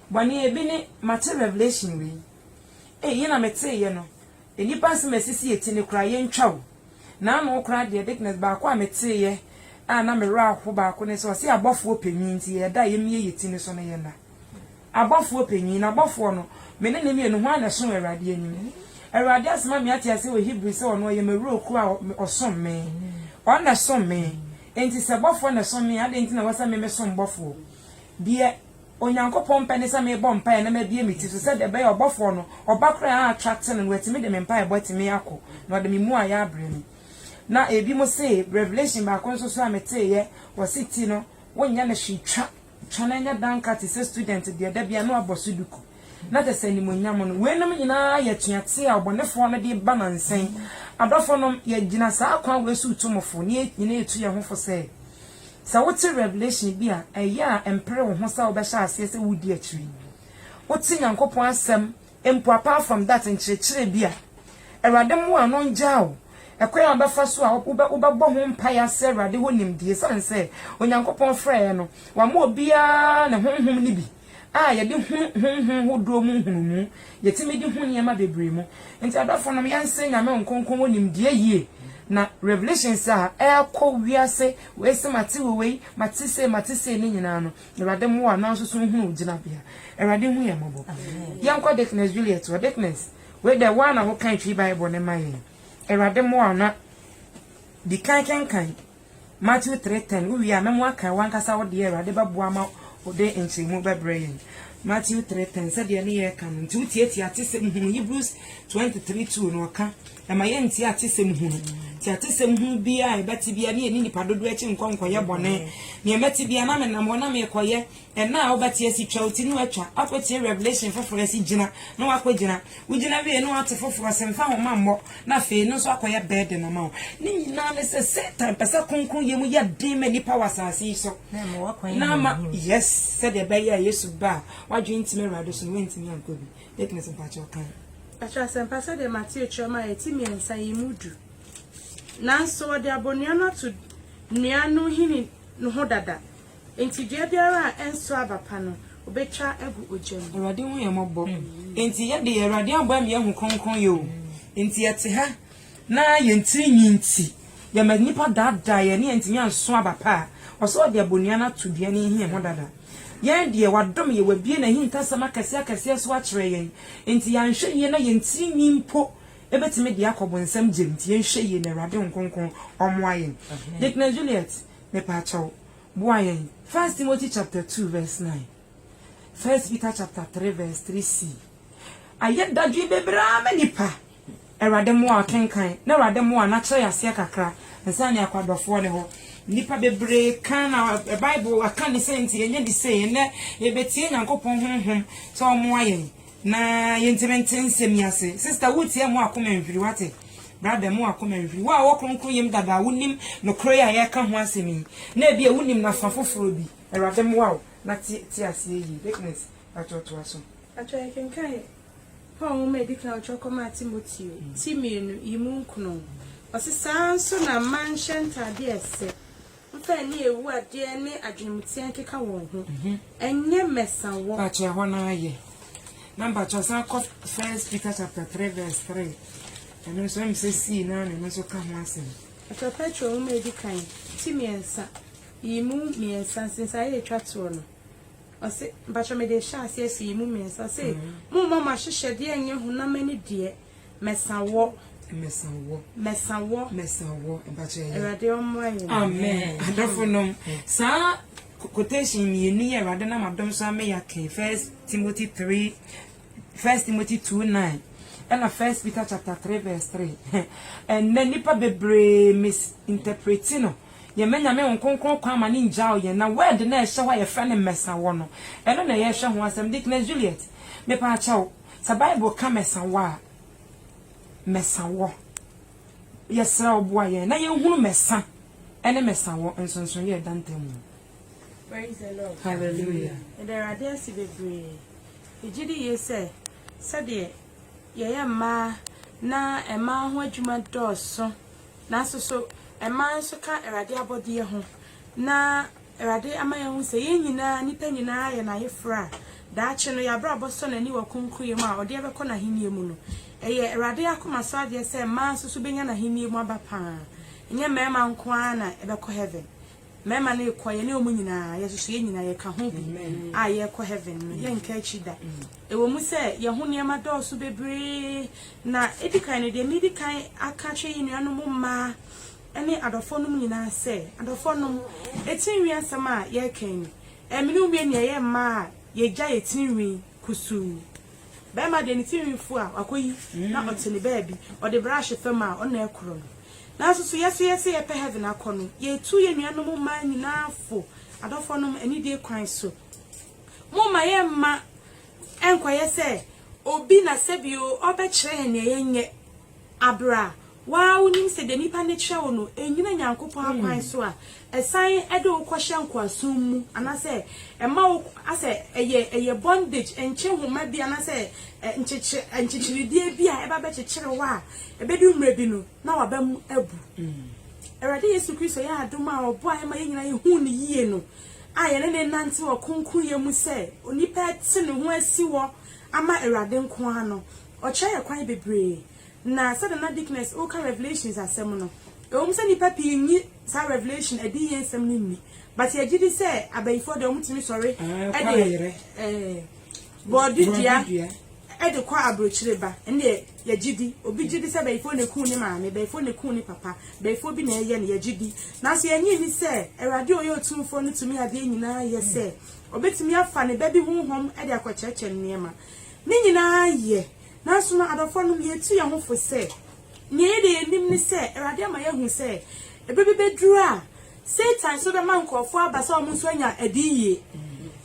Bɔne ebi ne mate revelation wei ei yɛ na metee yɛ no nnipa nsɛm a ɛsisi yɛ ti no koraa yɛ ntwa o na ano koraa deɛ Dickness baako a metee yɛ a na me werɛ aho baako ne sɛ ɔse abɔfoɔ panyin nti yɛ da a yɛ mie yɛ ti no so no yɛ nna abɔfoɔ panyin na abɔfoɔ no me ne ne mmienu hwan na ɛso Awurade anim Awurade asoma me ate aseɛ wɔ Hebrew sɛ ɔno ɔyɛ m'awuro koro a ɔsom me ɔno na ɛsom me enti sɛ bɔfoɔ na ɛsom me a adɛn nti na ɛwɔ sɛ me me som bɔfoɔ deɛ Onyankopɔn pɛ ne sɛ mebɔ mpaeɛ na mabue me ti so sɛdeɛ ɛbɛyɛ a ɔbɔfoɔ no, ɔba korɔ a atwa tene no, watumi de me mpaebɔ atumi akɔ, na ɔde me mmuaeɛ abrɛ me. Na ebinom se, Revelation baako nso so a meteeɛ, wɔse ti no, wonyɛ no hwee, twa, twa na ɛnyɛ danka te sɛ student deɛ da biara na wabɔ so duku, na kyerɛ sɛ animuonyam no. Weinom nyinaa yɛ atuateɛ a ɔbɔnefoɔ no de ba nansa yi. Adɔfonom, yɛgyina saa kwan wei so retu mo fo, na yɛn nyinaa retu yɛn ho fo sɛ, Sɛ wote revelation bi a, ɛyɛ a ɛmpere wo ho sɛ wobɛhyɛ aseɛ sɛ wodi akyire? Wote Nyankopɔn asɛm mpo apart from that nkyerɛkyerɛ bi a, Awurade mmoa no ngyaa wo ɛkwan a wobɛfa so a wobɛbɔ ho mpaeɛ asrɛ Awurade hɔ nimdeɛ ɛsiane sɛ Onyankopɔn frɛeɛ no, wama obiara ne honhom no bi. a yɛde hunu honhom hodoɔ mu nhunumu, yɛtumi de hu nneɛma bebree mu. Nti adɔfo nom yɛnse Nyame Nkonkron wɔ nimdeɛ yie, na revelations a ɛɛkɔ wiase wei se mate wɔ wei, mate sei, mate sei ne nyinaa no Awurade mmoa na nso so nhunu wo gyinabea. Awurade hu yɛn mmɔbɔ. Yɛnkɔ Dickness Juliet hɔ, Dickness wei deɛ woa na wokan Twi Bible no ma yɛn, Awurade mmoa wo na dikan kenkan Matthew three ten, Wo wie a, mɛmo akan w'ankasa wo deɛ, Awurade bɛboa ama wo de nkyerɛmu bɛbrɛ yɛn. Matthew three ten, Sɛdeɛ ne yɛreka no nti wotiatia atesɛm hunu, Hebrews twenty three two no ɔka, ɛma yɛntie atesɛm hunu, nti atesɛm hunu biara a yɛbɛte biara ne yɛnni nnipa dodoɔ akyi nkɔ nkɔyɛ bɔne, nea mɛte biara na menam hɔ na merekɔyɛ, Ɛna a wobɛte asi twa wo ti na watwa, akɔtie Revelation foforɔ asi gyina na wakɔgyina. Wogyina wie na wate foforɔ se mfa homa mmɔ na afei ɛno nso akɔyɛ burden ama wo. Ne nyinaa ne sɛ Satan pɛ sɛ kronkronyɛ mu yɛ den ma nnipa wɔ asase yi so. Na ama wakwan anya ne ho. Yes, sɛdeɛ ɛbɛyɛ a Yesu ba a wadwene ntimi Awurade so no wantumi ankɔ bi. Dickness mpakyɛw kan. Ɛkyerɛ asɛmpa sɛdeɛ Mateo kyerɛ mu a ɛte mmiɛnsa yi mu du. Nanso wɔde abonnua no ato nnua no nhini no ho dada. Enti dua biara a ɛnsow aba pa no, obetwa agu ogya mu. Awurade hu yɛn mmɔbɔ. Enti yɛ deɛ, Awurade aboa me yɛahu kronkronyɛ o. Enti yɛte ha na yɛn tiri nwi nti, yɛma nnipa daadaa yɛn ne yɛntumi ansow aba pa a, ɔsɛ ɔde abonua no ato dua no nhia ho dada. Yɛn deɛ, wadom yɛn, wabue n'ahintasɛm akɛseɛ akɛseɛ so akyerɛ yɛn. Enti yɛanhwɛ yie na yɛn tiri nwi mpo bɛtumi de akɔ bonsam gyam. Enti yɛnhwɛ yie na Awurade Honhom Kronkron ɔmmoa yɛn. Deaconess Juliet. Mepakyɛw, boa yɛn. First Timothy chapter two verse nine, First Peter chapter three verse three C. Ayɛ dadwen bebree ara ma nipa. Awurade mmoa a kenkan na Awurade mmoa na kyerɛ yɛ aseɛ kakra nsa ne akɔ adɔfoɔ no hɔ. Nipa bebree kan na Bible aka ne sɛ nti yɛnyɛ ne sei ɛnɛ yɛbɛtie Nyankopɔn honhom sɛ ɔmmoa yɛn. Na yɛntimi nte nsɛm yi ase. Sister wo tie mo akoma nhwiri wate? Brother mo akoma nhwiri. Wo a wɔ kronkron yam dada a wo nim nokorɛ yi a yɛreka ho asɛm yi. Na ebia wo nim no afa foforɔ bi. Awurade mmoa wo na te te aseɛ yie. Dickness pakyɛw toa so. Pakyɛw yɛ kenkan Paul nwoma a edi kan a ɔtwerɛ kɔmaa Timoteo, ti mmienu, yi mu nkono. Ɔse saa ara nso na mma nhyɛ ntaadeɛ a ɛsɛ. Mfa ani a ewu adeɛ ne adwenemteɛ nkeka wɔn ho. Ɛnyɛ mmɛsawɔ. Mpakyɛ ɛhɔ no ara yɛ. Na mpakyɛ san kɔ First Peter chapter three verse three. Ɛno nso ɛm sɛ sii no ara na ɛno nso ka ho asɛm. Ɛfɛ Petro nwoma a edi kan ti mmiɛnsa yi mu mmiɛnsa nsensaeɛ a etwa toɔ no. Ɔse, mpakyɛ mede rehyɛ aseɛ so yi mu mmiɛnsa. Ɔse, Mommma mo ahyehyɛdeɛ nyɛ honam ani deɛ, Mɛsa wɔ. Mɛsa wɔ. Mɛsa wɔ. Mɛsa wɔ. Mpakyɛ yɛ. Awurade ɔmmoa yɛn. Amen. Adɔfo nom, saa quotation mmienu yɛ Awurade nam adom so ama yɛakan First Timothy three, First Timothy two nine, ɛna First Peter chapter three verse three. Ɛnna nnipa bebree misinterpreti no. Yɛmɛ nyame wɔn kronkron kwan ma ne ngyaw yɛn na word na ɛhyɛ hɔ a yɛfrɛ no mmɛsa wɔ no ɛno na yɛhwɛ ho asɛm Deaconess Juliet mepɛ akyɛw Sɛ Bible ka mɛsa wo a, mɛsa wɔ. Yɛsrɛ wo boa yɛn na yɛnhunu mɛsa ne mɛsa wɔ nsonsonoeɛ a ɛda ntam mu. Praise the Lord. Hallelujah. Yɛda Awurade ase bebree. Yɛgye di yie sɛ sɛdeɛ yɛyɛ mmaa na mmaa ho adwuma dɔɔso nanso so mmaa nso ka Awurade abɔdeɛ ho na Awurade ama yɛahu sɛ yɛn nyinaa, nnipa nyinaa, yɛ N'Ayeforɔ a daakye no yɛn abrabɔ sɔ N'ani wɔ kronkronyɛ mu a Ɔde yɛn bɛkɔ N'Ahennie mu no. Ɛyɛ Awurade akomasoadeɛ sɛ mmaa nso so bɛnya N'Ahennie mu aba pa ara. Ɛnyɛ mmarima nko ara na ɛbɛkɔ Heaven. Mmarima no rekɔ, yɛne wɔn nyinaa, yɛn nso so yɛn nyinaa yɛka ho bi a yɛrekɔ Heaven no. Yɛnka akyiri da. Ɛwɔ mu sɛ yɛn ho nneɛma dɔɔso bebree, na ɛdi kan no deɛ medi kan aka akyerɛ yɛn nuanom mmaa, ne adɔfonom nyinaa sɛ, Adɔfonom, atirinwi asɛm a yɛreka yi, ɛmene wo mmienu yɛyɛ mma a yɛagya yɛn tirinwi kusuu. Barima deɛ, ne tirinwi fu a, wakɔyi na ɔte ne baabi, ɔde brahye fam a, ɔno na ɛkorɔ no. Nanso so yɛn nso yɛse yɛpɛ heaven akɔ no, yɛtu yɛn nuanom mmaa nyinaa fo? Adɔfonom, anidie kwan so, momma yɛn mma ɛnkɔyɛ sɛ obi na sɛbi o, ɔrebɛkyerɛ yɛn deɛ yɛnyɛ. Aber a woara wo nyim sɛ dɛ nyimpa no kyerɛ wo no ennyina Nyankopɔn akwan so a, esan de wo kɔhyɛ nkowaasom mu anasɛ ɛma wo asɛ ɛyɛ ɛyɛ bondage, nkye nhoma bi anasɛ nkyekye nkyekyeredeɛ bi a ɛba bɛkyekyere wo a, ebedu mmerɛ bi no na w'abam abu. Awurade Yesu Kristo yɛ adom a ɔboaeɛ ma yɛn nyinaa yɛhuu no yie no a yɛne no renante wɔ kronkronyɛ mu sɛ onipa te ne ho asi hɔ ama Awurade nko ara no, Ɔkyerɛ yɛn kwan bebree. Na sɛdeɛ Nana Dickness reka Revelations asɛm no, ɛwɔ mu sɛ nnipa pii nnye saa Revelation adiyie nsɛm no nni, but yɛgye di sɛ abayifoɔ deɛ wɔtumi sɔre de bɔɔde dua de kɔ abrokyire ba. Ɛno deɛ yɛgye di. Obi gye di sɛ bayifoɔ na ɛkum ne maame, bayifoɔ na ɛkum ne papa, bayifoɔ bi na ɛyɛ no, yɛgye di. Nanso yɛnnye nni sɛ Awurade a ɔyɛ Otumfoɔ no tumi adeɛ nyinaa yɛ sɛ ɔbɛtumi afa ne ba bi honhom de akɔkyerɛkyerɛ no nneɛma. Ne nyinaa yɛ. Nanso no, adɔfonom, yɛretu yɛn ho fo sɛ, nea ɛyɛ deɛ yɛnim ne sɛ, Awurade ama yɛahu sɛ, ɛberɛ bi bɛduru a, Satan nso bɛma nkorɔfoɔ aba sɛ wɔn nso anya adiyie.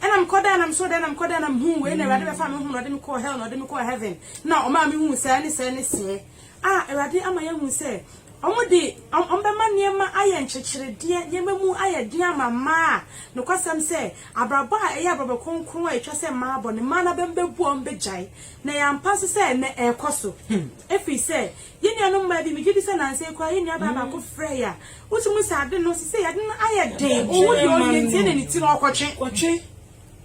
Ɛna mekɔ dan na mesɔɔ dan na mekɔ dan na mehuu wei na Awurade bɛfaa me honhom na ɔde me kɔɔ hell na ɔde me kɔɔ heaven na ɔmaa mehuu sɛɛ ne sɛɛ ne seɛ. A, Awurade ama yɛahu sɛ, Wɔde wɔn bɛma nneɛma ayɛ nkyekyeredeɛ, nneɛma mu ayɛ den ama mmaa a nokwasɛm sɛ abrabɔ a ɛyɛ abrabɔ kronkron a ɛtwa sɛ mmaa bɔ no, mmaa no abam bɛbu a wɔbɛgyae. Na ɛyɛ ampa nso sɛ ɛnnɛ ɛrekɔ so. Ɛfiri sɛ, yɛn nuanom mmaa bi, megye di sɛ nnansa yi koraa yɛn nuabaa baako frɛɛ yɛn a, wotumi sɛ ade no, seesei ade no ayɛ den, ɔwu deɛ ɔnwie nti ɛnna ne ti no ɔrekɔtwe.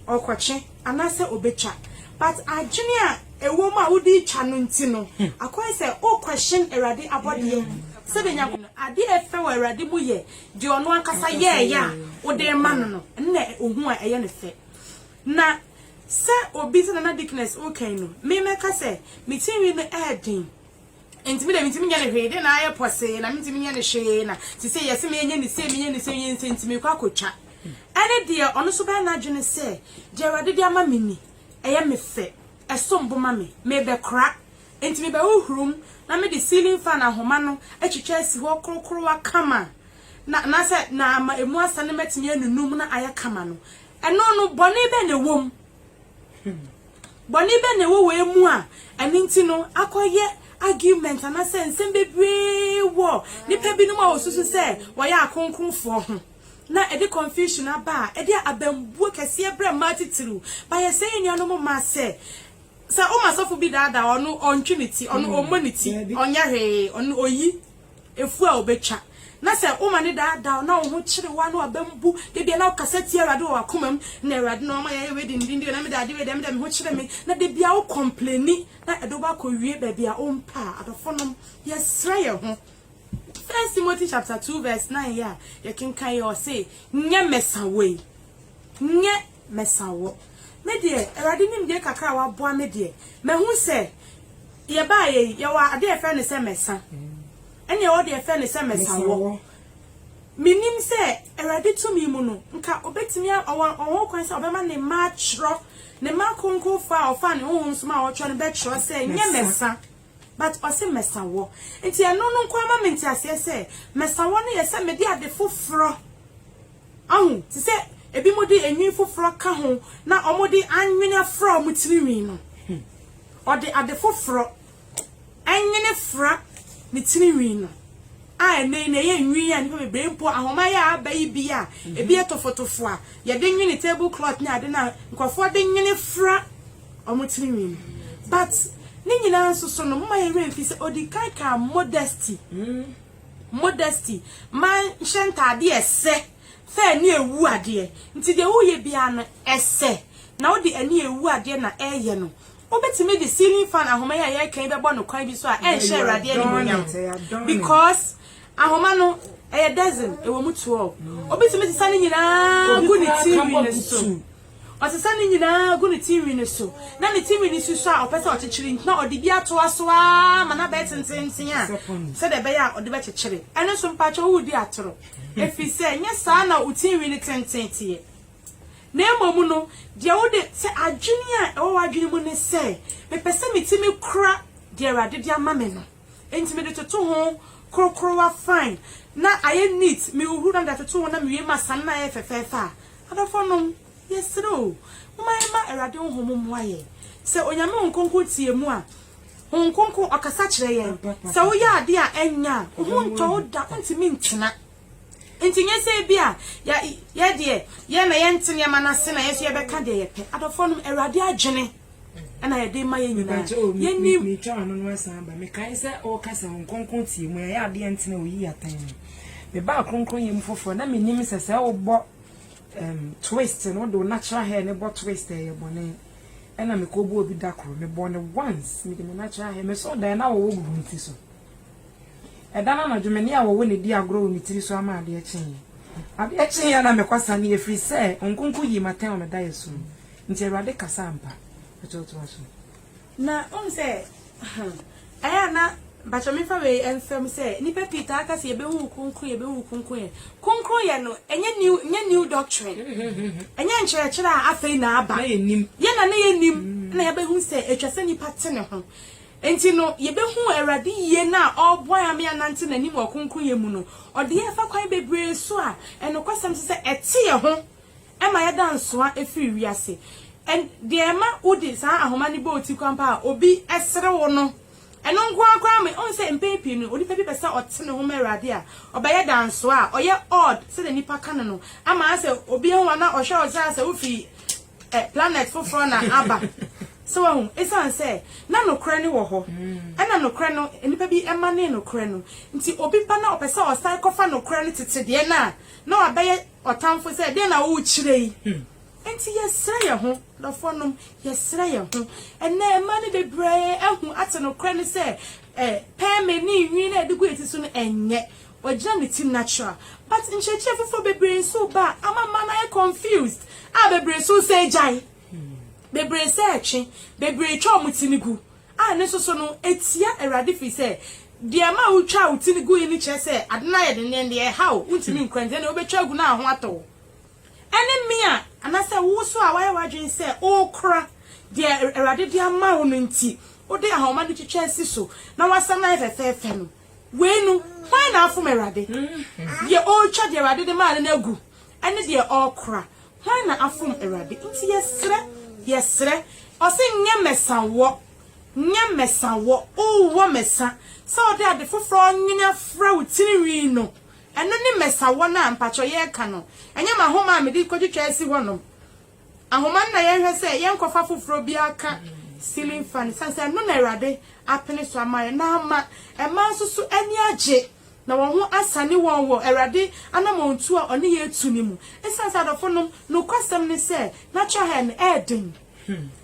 ɔrekɔtwe anaasɛ ɔbɛtwa but adwene a ɛwɔ mu a wode retwa no nti no, akɔyɛ sɛ wo question Awurade abɔdeɛ sɛdeɛ Nyankopɔn. Adeɛ a ɛfɛ wɔ Awurade mu yɛ deɛ ɔno ankasa yɛeɛ a wode rema no no, ɛno na ɔhu a ɛyɛ no fɛ. Na sɛ obi sɛdeɛ na Dickness reka yi no, memɛka sɛ me tirinwi no ɛyɛ den. Enti me deɛ mentumi nyɛ no hwee, dee na ayɛ pɔsee na mentumi nyɛ no hwee na sesei yɛse menyɛ no sei menyɛ no sei menyɛ no sei nti mekɔ akɔtwa. Ɛne deɛ ɔno nso bɛyɛ n'adwene sɛ deɛ Awurade de ama me ni, ɛyɛ me fɛ, ɛsom bo ma me, mebɛkora. Enti mebɛhohoroam na mede ceiling fan ahoma no atwitwa asi hɔ korokorowa kama na anaasɛ na ama ɛmu asane matumi anunum na ayɛ kama no, ɛno no bɔne bɛn na ɛwom? Bɔne bɛn na ɛwɔ wei mu a ɛno nti no akɔyɛ argument anaasɛ nsɛm bebree wɔ nnipa binom a wɔsusu sɛ wɔyɛ akronkronfoɔ ho, na ɛde confusion aba a ɛde abambuo kɛseɛ brɛ mmaa titiriw? But yɛsrɛ yɛn nuanom mmaa sɛ, sɛ woma sɔfo bi daadaa wo a, ɔno ɔntwe ne ti, ɔno ɔmmɔ ne ti, ɔnyɛ hwee, ɔno ɔyi. Afuw a obetwa, na sɛ woma no daadaa wo, na wo ho kyere wo, a na w'abam bu, da biara na wokasa tia Awurade wɔ w'akoma mu, na Awurade na ɔma yɛayɛ wei de, ne din de wei, na mede ade wei de, na mede meho kyere me, na da biara wo kɔmpleni, na ɛde wo ba kɔwie baabi a wompɛ a, adɔfonom, yɛsrɛ yɛn ho. First Timothy chapter 2 verse 9 yi a yɛkenkan yi, ɔse, nyɛ mɛsa wei, nyɛ. mɛsa wo. Me deɛ, Awurade nim deɛ kakra a waboa me deɛ, mahu sɛ yɛbaeɛ yi, yɛwɔ adeɛ a yɛfrɛ no sɛ mɛsa. Ɛnneɛ wo deɛ frɛ no sɛ mɛsa wo. Menim sɛ Awurade tumi mu no, nka ɔbɛtumi a, ɔwɔ, ɔwɔ ho kwan sɛ ɔbɛma ne mma atwerɛ, ne mma akronkronfoɔ a ɔfaa ne honhom so maa wɔtwerɛ no bɛtwerɛ sɛ, nyɛ mɛsa, but ɔse mɛsa wo. Nti ɛno no nko ara ma me nteaseɛ sɛ, mɛsa wo no yɛ sɛ mede ade foforɔ Ahu te sɛ ebinom de nwi foforo ka ho na wɔde anwene afra wɔn tirinwi no. Ɔde ade foforo nwene fra ne tirinwi no, a ɛnnɛ yi na ɛyɛ nwi a nnipa bebree mpo ahoma yi a aba yi bi a ebi yɛ tofotofo a yɛde nwene table cloth ne ade no a nkurɔfoɔ de nwene fra wɔn tirinwi no. But ne nyinaa nso so no, momma yɛn werɛ mfi sɛ ɔdi kan kaa modesty. Modesty, Mma nhyɛ ntade a ɛsɛ, fɛ ani a ewu adeɛ. Nti deɛ woreyɛ biara no, ɛsɛ na wode ani a ewu adeɛ na ɛreyɛ no. Wobɛtumi de ceiling fan ahoma yi a yɛreka yi bɛbɔ no kwan bi so a ɛrenhyɛ Awurade animuonyam. Because ahoma no, ɛyɛ dozen, ɛwɔ mu twelve. Wobɛtumi sesa ne nyinaa gu ne tirinwi no so. Ɔsesa ne nyinaa gu ne ti nwi no so, na ne ti nwi no susɔ a ɔpɛ sɛ ɔkyekyere nti, na ɔde bi atoa so ara ma no abɛyɛ tenteenten a sɛdeɛ ɛbɛyɛ a ɔde bɛkyekyere. Ɛno nso, mpakyɛw woredi atoro, ɛfiri sɛ ɛnyɛ saa na wo ti nwi no tenten teɛ. Na mmom no, deɛ wode, sɛ adwene a ɛwɔ w'adwene mu ne sɛ, Mepɛ sɛ me ti me kora deɛ Awurade de ama me no. Enti mede toto ho korokorowa fine na ayɛ neat, mehuhuru na mede atoto ho na mewie ma asane no ayɛ fɛfɛɛfɛ a, adɔfonom, yɛsrɛ o, momma yɛmma Awurade Honhom mmoa yɛn. Sɛ Onyame Honhom Kronkron te yɛn mu a, Honhom Kronkron, Ɔkasa kyerɛ yɛn. Sɛ woyɛ adeɛ a ɛnyɛ a, wo ho ntɔ wo da, wontumi ntena. Enti nyɛ sɛ ebia yɛ, yɛ deɛ, yɛn na yɛnte nneɛma no ase na yɛn nso yɛbɛka deɛ yɛpɛ. Adɔfonom, Awurade adwene. ɛna yɛde ma yɛn nyinaa yɛnim metwa ano no asan aba mekae sɛ ɔreka sɛ wɔn kronkron tie mu ɛyɛ adeɛ ntena oyi atan mu mebaa kronkron yɛ mu foforɔ na menim sɛ sɛ wobɔ um, twist no wode wo natural hair ne bɔ twist ɛyɛ bɔne ɛna mekɔbɔ obi da koro mebɔ no once mede me natural hair mesɔ dan na wɔwɔ gugu nti so ɛda no anadwo me ne a wɔwɔ ne di agorɔ wɔ me tiri so ama adeɛ kyeeɛ adeɛ kyeeɛ na mekɔsane ɛfiri sɛ nkonko yii matɛn wɔ meda yɛ so Nti Awurade kasa ampa? Pakyɛw toa so. Na wohu sɛ ɛyɛ a na mpakyɛw memfa wei mfa mu sɛ nnipa pii taa ka sɛ yɛbɛhu wo kronkron yɛbɛhu wo kronkronyɛ. Kronkronyɛ no ɛnyɛ new ɛnyɛ new doctrine. Ɛnyɛ nkyerɛkyerɛ a afei na aba. Yɛn na na yɛnnim na yɛabɛhu sɛ ɛtwa sɛ nnipa te ne ho. Nti no yɛbɛhu Awurade yie no a ɔreboa yɛn ama yɛanante n'anim wɔ kronkronyɛ mu no, ɔde yɛn fa kwan bebree so a ɛnokwasɛm nso sɛ ɛte yɛn ho Ɛma yɛda nsoa firi wiase. Ɛn, deɛ ɛma wode saa ahoma no bɔ wo ti kwan paa a, obi sere wo no. Ɛno nko ara koraa ma, wohu sɛ mpɛn pii no, onipa bi pɛ sɛ ɔte ne ho ma Awurade a, ɔbɛyɛ dansoa a, ɔyɛ odd sɛdeɛ nnipa ka no no, ama ayɛ sɛ obi ahu wo anaa ɔhwɛ wo sɛ ayɛ sɛ wofi ɛ, planet foforɔ na aba. So woahu? Ɛsiane sɛ na nokorɛ no wɔ hɔ, ɛna nokorɛ no, nnipa bi manee nokorɛ no nti, obi ba na ɔpɛ sɛ ɔsan kɔfa nokorɛ no, tete deɛ no a, na wabɛyɛ. Ɔtamfo sɛ, Dɛn na worekyerɛ yi? Enti yɛsrɛ yɛn ho, dɔfonom, yɛsrɛ yɛn ho. Ɛnnɛ, mmaa no bebree ahu, ate nokorɛ no sɛ pɛɛmee ne nhwi no a yɛde gu yɛn ti so no nyɛ, wɔagyina ne ti natural. But nkyerɛkyerɛ foforɔ bebree nso reba a ama mmaa no ayɛ confused a bebree nso resɛ gyae, bebree sɛ ɛtwe, bebree twa wɔn ti no gu. A ne nso so no, etia Awurade firi sɛ, deɛ ɛmaa wotwaa wo ti no guiɛ no kyerɛ sɛ ade no ayɛ den, na ɛnde ɛha wo, wontumi nkɔ, ɛnde ɛnneɛ wobɛtwa agu na aho atɔ wo. Ɛne me a, anaasɛ wo nso a woayɛ w'adwene sɛ worekora deɛ Awurade de ama wo no nti, wode ahoma no twitwa asi so na woasam no ayɛ fɛfɛɛfɛ no, wei no, hwan na afom Awurade? Deɛ ɔretwa deɛ Awurade de maa no no agu, ɛne deɛ ɔrekora, Hannah afom Awurade nti yɛsrɛ, yɛsrɛ. Ɔse nyɛ mɛsa wɔ, nyɛ mɛsa wɔ, wowɔ mɛsa. Sɛ wode ade foforɔ nwene afra wo tirinwi no, ɛno ne mɛsa wɔ no a mpakyɛw yɛreka no. Ɛnyɛ m'ahoma a mede kɔtwitwa asi hɔnom. Ahoma no na yɛnhwɛ sɛ yɛnkɔfa foforɔ bi aka ceiling fan no, sane sɛ ɛno na Awurade apene so ama yɛn na ama mmaa nso so ani agye. Na wɔn ho asane wɔn wɔ Awurade anamɔntuo a ɔne yɛn retu no mu. Esiane sɛ adɔfonom, nokwasɛm ne sɛ na trahɛl no yɛ den.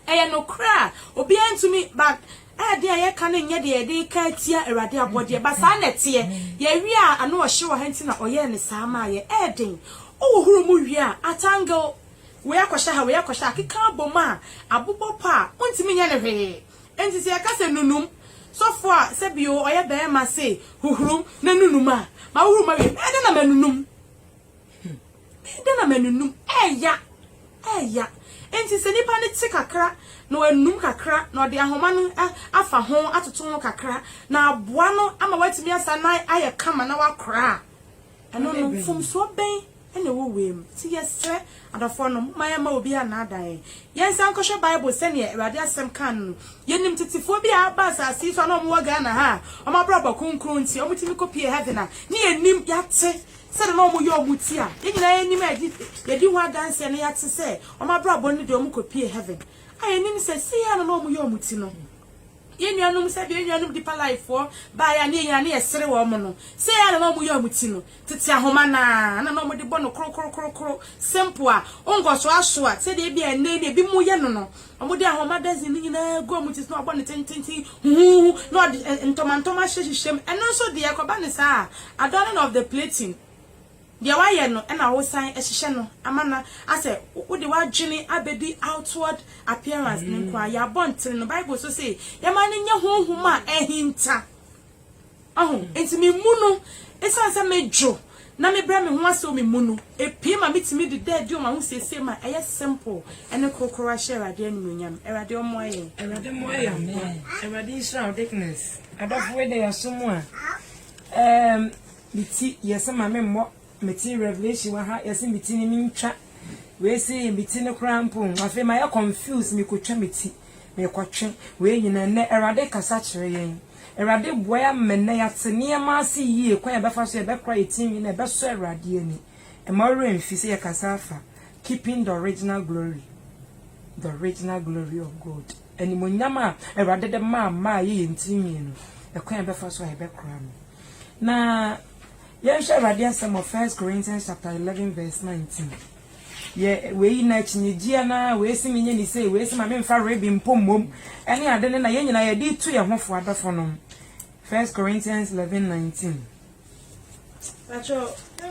Ɛyɛ nokorɛ a obiara ntumi ba ɛyɛ den a yɛka no nyɛ deɛ yɛde reka atia Awurade abɔdeɛ ba saa na ɛteɛ. Yɛwe a ano ɔhye wɔ ha nti na ɔyɛɛ no saa maa yɛn. Ɛyɛ den. Wohohoro mu wie a atangle wei akɔhyɛ ha wei akɔhyɛ ha akeka abom a abobɔ pɔ a wontumi nyɛ no hwee. Enti sɛ yɛka sɛ nunum sɔfo a sɛ bio ɔyɛ barima se huhuru na nunum a, ma wohuru mawie, bɛyɛ dɛn na manunum? Hmm. Bɛyɛ dɛn na manunum? Ɛɛya. Ɛɛya. Enti sɛ nipa no te kakra na wanunum kakra na ɔde ahoma no afa ho atoto ho kakra na aboa no ama watumi asa na ayɛ kama na wakora a, ɛno no mfomsoɔ bɛn na ɛwɔ wei mu. Nti yɛsrɛ adɔfoɔ no, momma yɛmma obiara nnaadaa yɛn. Yɛnsan nkɔhwɛ Bible sɛdeɛ Awurade Asɛm kaa no no. Yɛnim tetefoɔ bi a aba asase yi so a na wɔwɔ Ghana ha a, wɔn abrabɔ kronkron nti, wɔtumi kɔpuee heaven a, na yɛnim, yɛate sɛdeɛ na wɔyɛ wɔn ti a, yɛn nyinaa yɛnim a yɛdi ho adanseɛ no, yɛate sɛ wɔn abrabɔ no deɛ wɔkɔpuee heaven a yɛnim sɛ sei ara na na wɔyɛ wɔn ti no. Yɛn nuanom, sɛdeɛ yɛn nuanom Deeper Life foɔ baeɛ a na yɛn ani resere wɔn no, sei ara na na wɔyɛ wɔn ti no, tete ahoma no ara na na wɔde bɔ no korokorokorokoro, simple a wonkɔ so asoa sɛdeɛ ebia ɛnnɛ yi na ebinom yɛ no no. Wɔde ahoma dozen no nyinaa gu wɔn ti so na wɔabɔ no tententen huhuuhu na wɔde ntɔmantɔma ahyehyehyehyɛ mu. Ɛno nso deɛ, ɛkɔba no saa a, adorning of the plaiting. Deɛ wayɛ no na wosan hyehyɛ no ama no asɛ wode w'adwene abɛdi outward appearance no nko ara, yɛabɔ ntene no, Bible nso se yɛma no nyɛ honhom a ahinta. Wahu? Enti me mu no, ɛsiane sɛ medwo na mebrɛ me ho ase wɔ me mu no, ɛpue ma metumi de da adi wɔ m'ahosiesie mu a ɛyɛ simple ne korokoro ahyɛ Awurade animuonyam. Awurade ɔmmoa yɛn. Awurade mmoa yɛn nkoa. Awurade nhyira wo Dickness. Adɔfo wei deɛ yɛaso mu a. Ɛɛm. Me ti yɛ se ma me mmɔ me ti revelation wɔ ha yɛ se me ti no me ntwa wei se yɛ me ti no koraa mpo afei mayɛ confuse me kɔtwa me ti me kɔtwe wei nyina nnɛ awurade kasa kyerɛ yɛn awurade boa yɛ ama nnɛ yɛate nneɛma ase yie kwan yɛbɛfa so yɛbɛkora yɛ ti nwi na ɛbɛsɔ awurade ani mma wo werɛ mfi sɛ yɛ kasa afa keeping the original glory the original glory of God animonyam a awurade de maa maa yɛ yɛn ti nwi no ɛkwan yɛbɛfa so a yɛbɛkora no. Na yɛnhwɛ Awurade Asɛm wɔ First Corinthians chapter eleven verse nineteen. Yɛ wei na akyinnyegyeɛ na wei se menyɛ ne sei, wei se ma memfa rebe mpo mmom ɛne ade no na yɛn nyinaa yɛde retu yɛn ho fo adɔfonom. First Corinthians eleven nineteen. Pakyɛ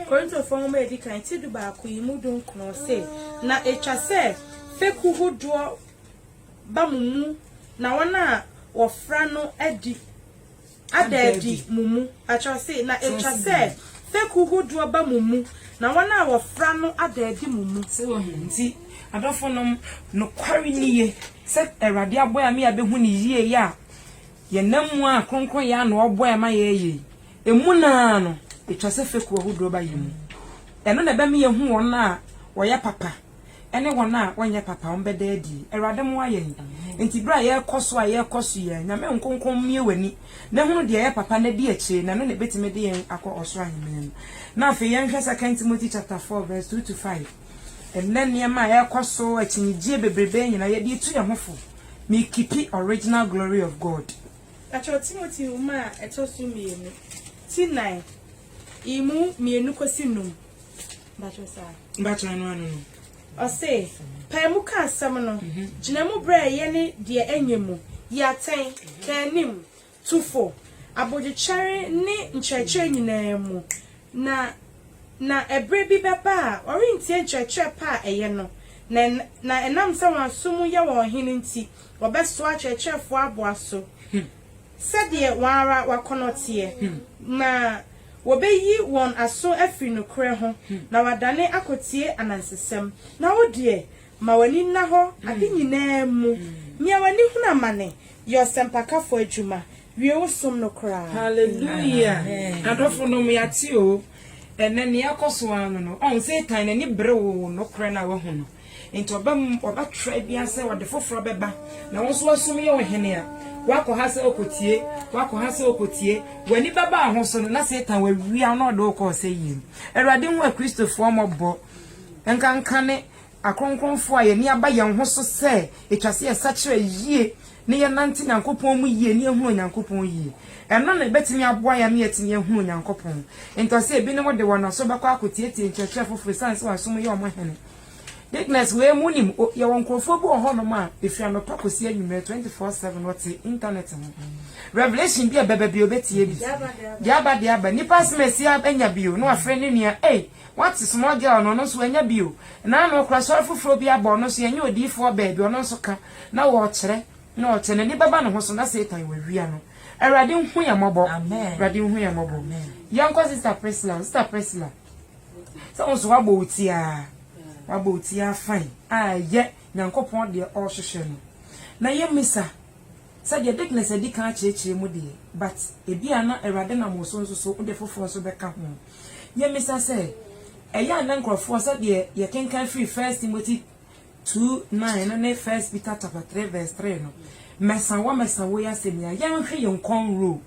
Korintofoɔ nwoma a ɛdi kan ti du baako yi mu du nkono se, Na ɛtwa sɛ fekuo hodoɔ ba mo mu na wɔn a wɔfra no adi ada adi mo mu. Pakyɛ ɔse na etwa sɛ fekuw hodoɔ ba mo mu na wɔn a wɔfra no ada adi mo mu. So wɔ he? Nti adɔfo nom, nokware ni ye sɛ Awurade aboa yɛ ama yɛabehu ne yie yi a yɛnam mu a kronkronyɛ a na ɔboa yɛ ma yɛɛyɛ yi, emu no ara no etwa sɛ fekuw ahodoɔ ba yɛ mu. Ɛno na ɛbɛma yɛahu wɔn a wɔyɛ papa. ne wɔn a wɔnyɛ papa wɔn bɛda adi. Awurade mmoa yɛn. Enti berɛ a yɛrekɔ so a yɛrekɔ so yɛ, Nyame nkonko mmue w'ani na hunu deɛ ɛyɛ papa na di akyire na ɛno na ɛbɛtumi de yɛn akɔ ɔsoro aheman mu. Na afei yɛnhwɛ Second Timothy chapter four verse two to five. Ɛnnɛ nneɛma a ɛrekɔ so, akyinnyegyeɛ bebrebe nyinaa yɛde retu yɛn ho fo. Me keepi original glory of God. Ɛtwerɛ Timothy nwoma a ɛtɔ so mmienu, ti nnan, emu mmienu kɔsi nnum. Ɔse, pae mu ka asɛm no, mhm. gyina mu berɛ ɛyɛ ne deɛ ɛnyɛ mu, yi atɛn, ka anim, tu fo, abodwokyɛre ne nkyerɛkyerɛ nyinaa mu, na na ɛberɛ bi bɛba a wɔrentie nkyerɛkyerɛ pa a ɛyɛ no, na na ɛnam sɛ wɔn aso mu yɛ wɔn hene nti, wɔbɛsoa akyerɛkyerɛfoɔ aboa so. Hmm. sɛdeɛ wɔn ara w'akɔnnɔ teɛ, na wɔ'beyi wɔn aso afri nokorɛ ho, na wɔ'adane akɔtie anansesɛm. Na wo deɛ, ma w'ani nna hɔ ade nyinaa mu, nea w'ani hunu amane, yɛ ɔsɛmpakafoɔ adwuma, wie wo som no koraa. Hallelujah! Adɔfonom, yɛate oo, ɛnnɛ nea ɛrekɔso ara no no, ɔho Satan n'ani bere wo nokorɛ no a w'ahu no. Enti ɔbɛm ɔbɛtra bia sɛ ɔde foforɔ bɛba na wo nso wasom yɛ ɔhene a, woakɔ ha sɛ wokɔtie, woakɔ ha sɛ wokɔtie, w'ani bɛba wo ho so no, na Satan wawia wo na ɔde wo kɔ ɔsɛeɛ mu. Awurade hu Akristofoɔ mmɔbɔ, ɛnkankane akronkronfoɔ a yɛani aba yɛn ho so sɛ ɛtwa sɛ yɛsakyera yie na yɛnante Nyankopɔn mu yie na yɛhunu Onyankopɔn yie. Ɛno na ɛbɛtumi aboa yɛn ama yɛatumi ahunu Onyankopɔn. Enti ɔse ebinom de wɔn aso bɛkɔ akɔtiatia nkyerɛkyerɛ foforɔ ɛsiane sɛ wɔasom yɛ wɔn ɔhene. Bigness wei mo nim o yɛwɔ nkorɔfoɔ bi wɔ hɔ nom a ɛfiri anɔpa kɔsi anwummerɛ twenty four seven wɔte internet ho revelation bi a ɛbɛba bi ɔbɛtie bi deɛ aba deɛ aba nipa asɛm ɛsi anya bi o na wafrɛ ne nua ei wate small girl no ɔno nso anya bi o na ano ɔkora sɔre foforɔ bi abɔ ɔno nso yɛnyɛ odiifoɔ baabi ɔno nso ka na wɔkyerɛ na ɔkyɛ n'ani bɛba ne ho so na satan wawia no awurade nhu yɛ mmɔbɔ awurade nhu yɛ mmɔbɔ yɛnkɔ sister Priscilla sister Priscilla Sɛ wo nso woabɔ wo ti ara, woabɔ wo ti ara fann a ɛyɛ Nyankopɔn deɛ ɔrehwehwɛ no. Na yɛmmisa sɛ deɛ Dickness adi kan akyerɛkyerɛ mu deɛ, but ebia na Awurade nam wo so nso so wode foforɔ nso bɛka ho. Yɛmmisa sɛ, ɛyɛ a na nkurɔfoɔ sɛdeɛ yɛkenkan firi First Timothy two nine no ne First Peter chapter three verse three no, mɛsa wo a mɛsa wo yi asɛm yi a, yɛnhwe yɛn kɔn rule.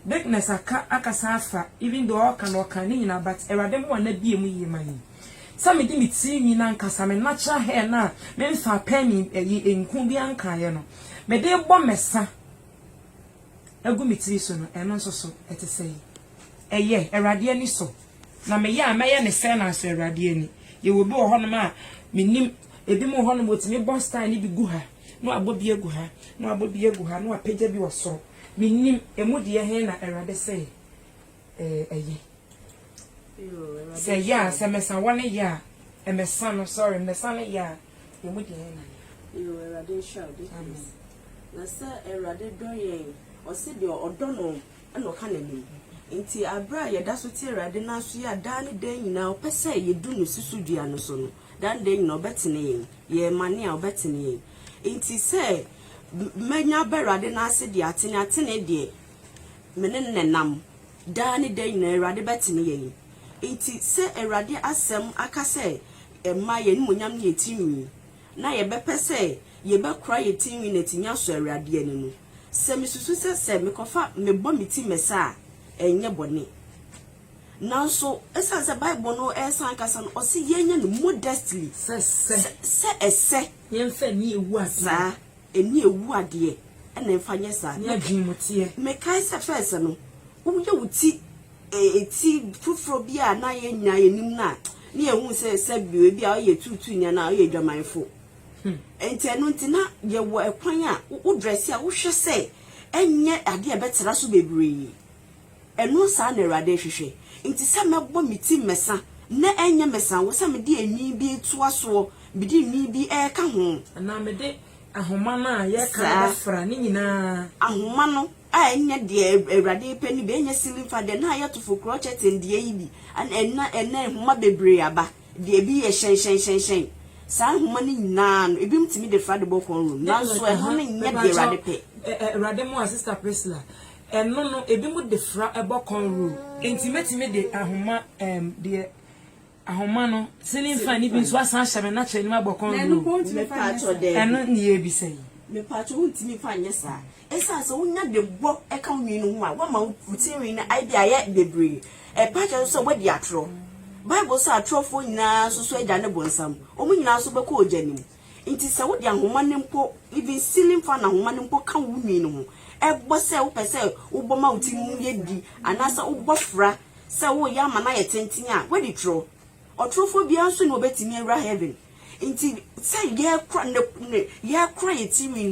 Bigness aka akasa afa even though ɔɔka no ɔkaa ne nyinaa but Awurade ho a na bue mu yie ma yɛn. Sɛ mede me tiri nwi no ankasa me natural hair no a me mfaa pɛɛmi ɛyi nku bi ankaeɛ no mede bɔ mɛsa agu me tiri so no ɛno nso so ɛte sɛi. Ɛyɛ Awurade ani sɔ na meyɛ a mɛyɛ ne sɛɛ na asɔ Awurade ani. Yɛwɔ bi wɔ hɔnom a menim ebi mo wɔ hɔnom wɔtumi bɔ style no bi gu ha. na wabɔ bi agu ha, na wabɔ bi agu ha, na wapagya bi wɔ soro. Mennim, emu deɛ he na Awurade se ɛyɛ. Sɛ ɛyɛ a, sɛ mɛsa wɔ ne yɛ a, mɛsa no, sorry, mɛsa ne yɛ a, emu deɛ he na ɛyɛ. Yoo, Awurade nhyira wo de. Amen. Na sɛ Awurade dɔ yɛn, ɔse deɛ ɔdɔ no na ɔka n'anim. Nti aberɛ a yɛda so te Awurade nan so yɛ a daa ne daa nyinaa ɔpɛ sɛ yɛdu ne susudua no so no, Daa nda nyina ɔbɛtene yɛn, yɛɛ mane a ɔbɛtene yɛn. Nti sɛ mɛnya ba Awurade n'ase deɛ atene atene deɛ me ne no na ɛnam, daa ne da nyina Awurade bɛtene yɛn. Nti sɛ Awurade asɛm aka sɛ mma yɛn animuonyam ne yɛn tirinwi, na yɛbɛpɛ sɛ yɛbɛkora yɛn tirinwi na atumi asɔ Awurade ani no, sɛ mesusu sɛ sɛ mekɔfa mebɔ me ti mɛsa a, ɛnyɛ bɔne. Nanso, esiane sɛ Bible no resan akasa no, ɔse yɛnyɛ no modestly, sɛ ɛsɛ, saa, ɛnni awu adeɛ, ɛna mfa nyɛ saa. Mekae sɛ first no, woyɛ wo ti ti foforɔ bi a na yɛnnya yɛnim no a, ne yɛhu sɛ sɛbio ebi a ɔyɛ tuutuuni anaa ɔyɛ adwamanfo. Nti ɛno nti na yɛwɔ ɛkwan a wo drɛse a wohwɛ sɛ ɛnyɛ adeɛ a ɛbɛtra so bebree. Ɛno saa na Awurade rehwehwɛ. Nti sɛ mɛbɔ me ti mmɛsa na ɛnyɛ mɛsa wɔ sɛ mede enwi bi retoa soɔ, mede enwi bi reka ho. Anaa mede ahoma no a yɛreka no bɛfra ne nyinaa. Ahoma no a ɛnyɛ deɛ Awurade repɛ no bi, ɛnyɛ ceiling fan, deɛ na ayɛ tofokorɔ curtain deɛ yi bi, ɛna ɛnɛ nhoma bebree aba, deɛ ebi yɛ hyɛnhyɛnhyɛnhyɛn, saa nhoma no nyinaa no, ebinom tumi de fra de bɔ kɔnroom, nanso ɛno no nyɛ deɛ Awurade pɛ. Awurade mmoa, Sista Priscilla, Ɛno no, ebinom de fra bɔ kɔn rule. Enti metumi de ahoma, ɛɛm, deɛ, ahoma no, sini fa no bi nso asan ahyɛ me n'akyɛ anim abɔ kɔn rule. Ɛno ne yɛrebisa yi. Mepatwo, wontumi mfa nyɛ saa. Esiane sɛ wonya de bɔ ka wo nwi no ho a, woama wo, wo ti nwi no ayɛdɛ ayɛ bebree. Ɛpa kyerɛ nso sɛ woadi atorɔ. Bible se atorɔfoɔ nyinaa nso so agya ne bonsam. Wɔn nyinaa nso bɛkɔ ogya no mu. Enti sɛ wode ahoma no mpo, even ceiling fan ahoma no mpo ka wo nwi no ho, ɛbɔ sɛ wopɛ sɛ wobɔ ma wo ti no mu yɛ di anaasɛ wobɔ fra sɛ woreyɛ ama no ayɛ tenten a, woadi toro. Ɔtorofoɔ biara nso na ɔbɛtumi awura heaven. Enti sɛ yɛkora ne, ne, yɛkora yɛn tirinwi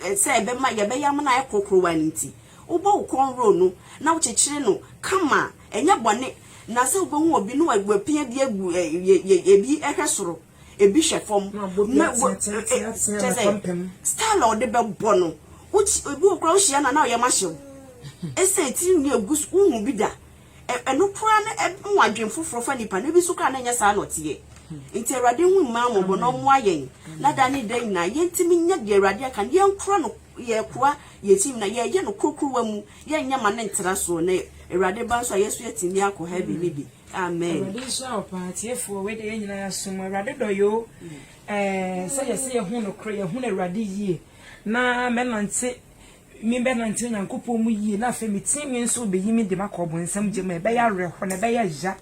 no sɛ ɛbɛma, yɛbɛyɛ ama no ayɛ korokorowa no nti, wobɔ wo kɔn roll no na wokyekyere no kama a, ɛnyɛ bɔne. Na sɛ wobɛhu obi na wapia bi agu, ɛ, yɛ, yɛ, yɛ bi hwɛ soro. ebi hwɛ fam na bɔ bi ateateateateɛ na pampam style a ɔde bɛbɔ no wokyi ebi wɔ koraa wohyia na na ɔyɛ ma hyew ɛsɛ etiri nwi egu so wohu bi da ɛno koraa no ɛmu adwen foforɔ fa nipa no ebi so koraa na ɛnyɛ saa na ɔteɛ nti awurade hu mmaa mmɔbɔ na ɔmoa yɛn na da ne da nyinaa yɛntumi nyɛ deɛ awurade aka no yɛnkora no yɛkora yɛkyim na yɛyɛ no kurokurowa mu yɛnyɛ ma ne ntra soɔ na awurade ba nso a yɛso yɛtumi akɔ heaven ne bi Amen. Awurade nhyira wo paa tiefoɔ wei deɛ yɛn nyinaa yɛasom mu Awurade dɔ yoo ɛɛ sɛ yɛsɛ yɛhu nokorɛ yɛhu Awurade yie na mɛnante mebɛnante Onyankopɔn mu yie na afei me tinwi nso bɛyi me de makɔ ɔbonsam gya mu ɛbɛyɛ awerɛhɔ na ɛbɛyɛ ya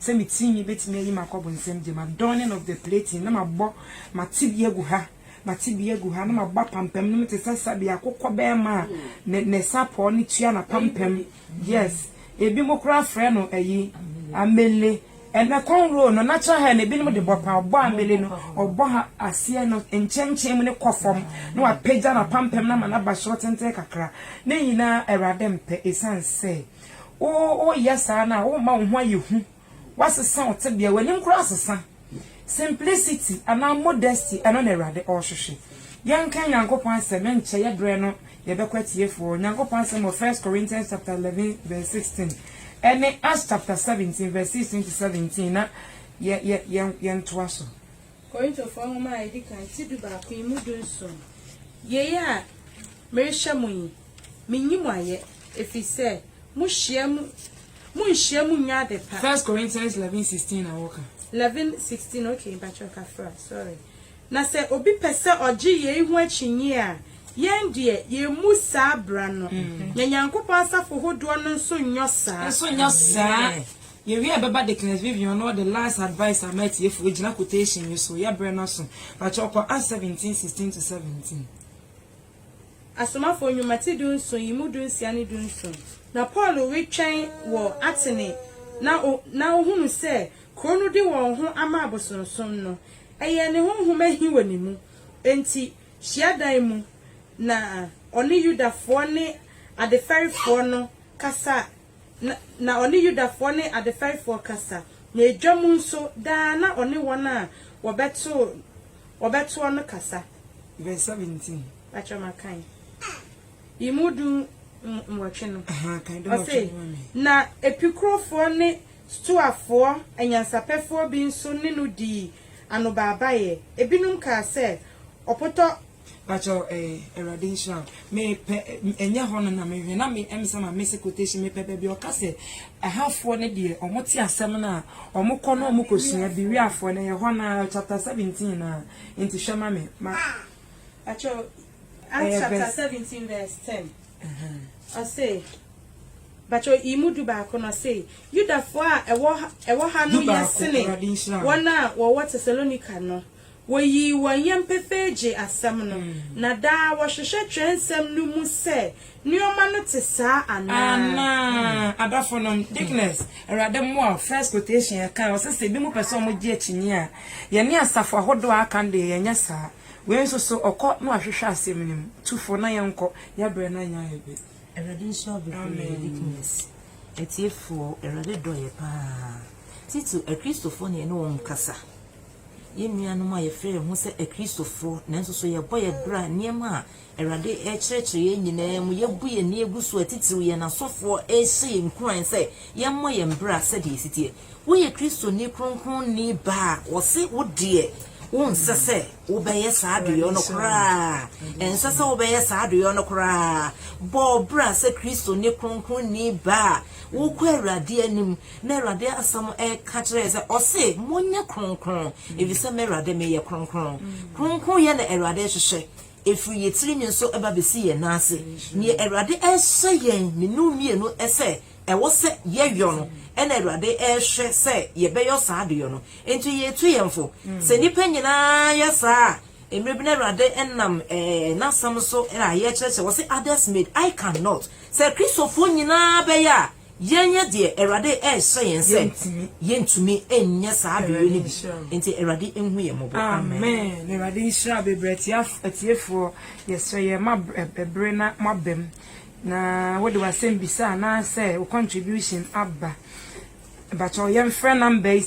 sɛ me tinwi bɛtumi ayi makɔ ɔbonsam gya mu adorning of the plating na mabɔ mate bi agu ha mate bi agu ha na mabɔ apampam no mu te sɛ sɛdeɛ akokɔ bɛrima a ne sapɔɔ no tua n'apampam Yes ebi mo koraa frɛ no ayi amele ɛnɛ kɔn roll no natural hair na ebi nom de bɔ paa ɔbɔ amele no ɔbɔ ha aseɛ no nkyɛnkyɛn mu ne kɔ fam na wa pagya na pampam na ama na ba soro tenten kakra ne nyinaa awurade mpɛ esan sɛ wo wo yɛ saa na wo ma wo ho ayɛ hu. Woasesa wo tebea, w'anim koraa asesa. Simplicity anaa modesty, ɛno na Awurade ɔrehwehwɛ. Yɛnkan Nyankopɔn asɛm nkyɛ, yɛ berɛ no yɛbɛkɔ atiefoɔ. Nyankopɔn asɛm wɔ First Corinthians chapter eleven verse sixteen ɛne Acts chapter seventeen verse sixteen to seventeen na yɛ yɛ yɛ yɛntoa so. Korintofoɔ Nwoma a Ɛdi Kan ti dubaako yi mu dunson. Yei a merehyɛ mo yi, mennyi mo ayɛ, ɛfiri sɛ Mohyia mu, monhyia mu nyɛ ade pa. First Corinthians 11 16 na wɔka. 11 16 okay mpakyɛw ka fra sorry. Na sɛ obi pɛ sɛ ɔgye yei ho akyinnye a, yɛn deɛ yɛmmu saa bra no, na Nyankopɔn asafo hodoɔ no nso nyɔ saa. Nso nyɔ saa. Yɛwie a ɛbɛba Deaconess Vivian na ɔde last advice ama atiefoɔ gyina quotation yi so. Yɛabrɛ no aso. Mpakyɛw kɔ Acts 17 16 to 17. Asomafoɔ Nnwuma ti dunson yi mu dunsia ne dunson. Na Paulo retwɛn wɔ Atene na o, na ohunu sɛ kuro no de wɔn ho ama abosonsom no. Ɛyɛɛ ne honhom ahi wɔ ne mu. Enti, hyiadan mu na ɔne Yudafoɔ ne adefɛrefoɔ no kasa Na, na ɔne Yudafoɔ ne adefɛefoɔ kasa, na edwa mu nso, daa na ɔne wɔn a wɔbɛto, wɔbɛtoɔ no kasa. Verse seventeen. Mpakyɛw makan yi mu du nwɔtwe no. Ahaa, kan du nwɔtwe no ma me. Ɔse, Na Epikurofoɔ ne Stoafoɔ anyansapɛfoɔ bi nso ne no dii anobaabaeɛ. Ebinom kaa sɛ, Ɔpotɔ Pakyɛw eh Awurade nhyira wo. Me pɛ ɛnyɛ hɔ no na me hwɛ na me em sɛ ma miss quotation me pɛ baabi a ɔka sɛ Ɛhafoɔ no deɛ ɔmo te asɛm no a ɔmo kɔ na ɔmo kɔ sua bi Wiafoɔ no ɛyɛ hɔ no ara chapter seventeen no ara nti hwɛ ma me ma Pakyɛw Acts chapter seventeen verse ten ɔse Pakyɛw yi mu du baako no ɔse Yudafoɔ a ɛwɔ ɛwɔ ha no yɛ sene wɔn a wɔwɔ Tesalonika no. Woyii wɔn yam pefee gyee asɛm no, na daa wɔhwehwɛ Twerɛnsɛm no mu sɛ nneɛma no te saa anaa. Adɔfonom, Deaconess, Awurade mmoa wo, first quotation yɛkae, ɔse sɛ binom pɛ sɛ wɔgye akyinnye a, yɛne asafo ahodoɔ a aka no deɛ yɛnyɛ saa. Wei nso so, ɔkɔ na wahwehwɛ asɛm no mu. Tu fo na yɛnkɔ, yɛn berɛ no anyɛ ayɛ pɛ. Awurade nhyira wo bebree, Deaconess. Atiefoɔ, Awurade dɔ yɛ paa. Titiriw, Akristofoɔ na yɛne wɔn kasa. Yɛn nuanom a yɛfrɛ yɛn ho sɛ Akristofo nanso so yɛbɔ yɛn bra nneɛma a Awurade rekyerɛkyerɛ yɛn nyinaa mu, yɛabu yɛn ani agu so a, titiriw yɛn asɔfoɔ rehyɛ yɛn nkuran sɛ yɛmmɔ yɛn bra sɛdeɛ ɛsi teɛ. Woyɛ Kristoni kronkronni ba a, wɔse wo deɛ wonsɛ sɛ wobɛyɛ saa adeyɔ no koraa. Ɛnsɛ sɛ wobɛyɛ saa adeyɔ no koraa. Bɔ wo bra sɛ Kristoni kronkronni ba a wokɔ Awurade anim Na Awurade asɛm ka kyerɛ yɛn sɛ, ɔse, Monyɛ kronkron, ɛfiri sɛ me Awurade meyɛ kronkron. Kronkronyɛ na Awurade rehwehwɛ, ɛfiri yɛn tiri nwi so ba bɛsi yɛn nan ase. Deɛ Awurade rehyɛ yɛn mmienu mmienu sɛ ɛwɔ sɛ yɛyɔ no na Awurade rehwɛ sɛ yɛbɛyɔ saa adeɛ no. Enti yɛretu yɛn fo. Sɛ nnipa nyina ara yɛ saa a, mmerɛ bi no Awurade nam N'asɛm so ayɛ kyerɛkyerɛ, ɔse, others made, I cannot. Sɛ Kristofoɔ nyina ara bɛyɛ a, Yɛn yɛ deɛ Awurade rehyɛ yɛn sɛ yɛntumi nyɛ saa bere no bi nti Awurade nhu yɛn mmɔbɔ amen. Amen Awurade nhyira bebree atiefoɔ yɛsrɛ yɛn ma bere na mo aba mu na wode w'asɛm bisa anaasɛ wo contribution aba ɛbakyɛw yɛmfrɛ number yi.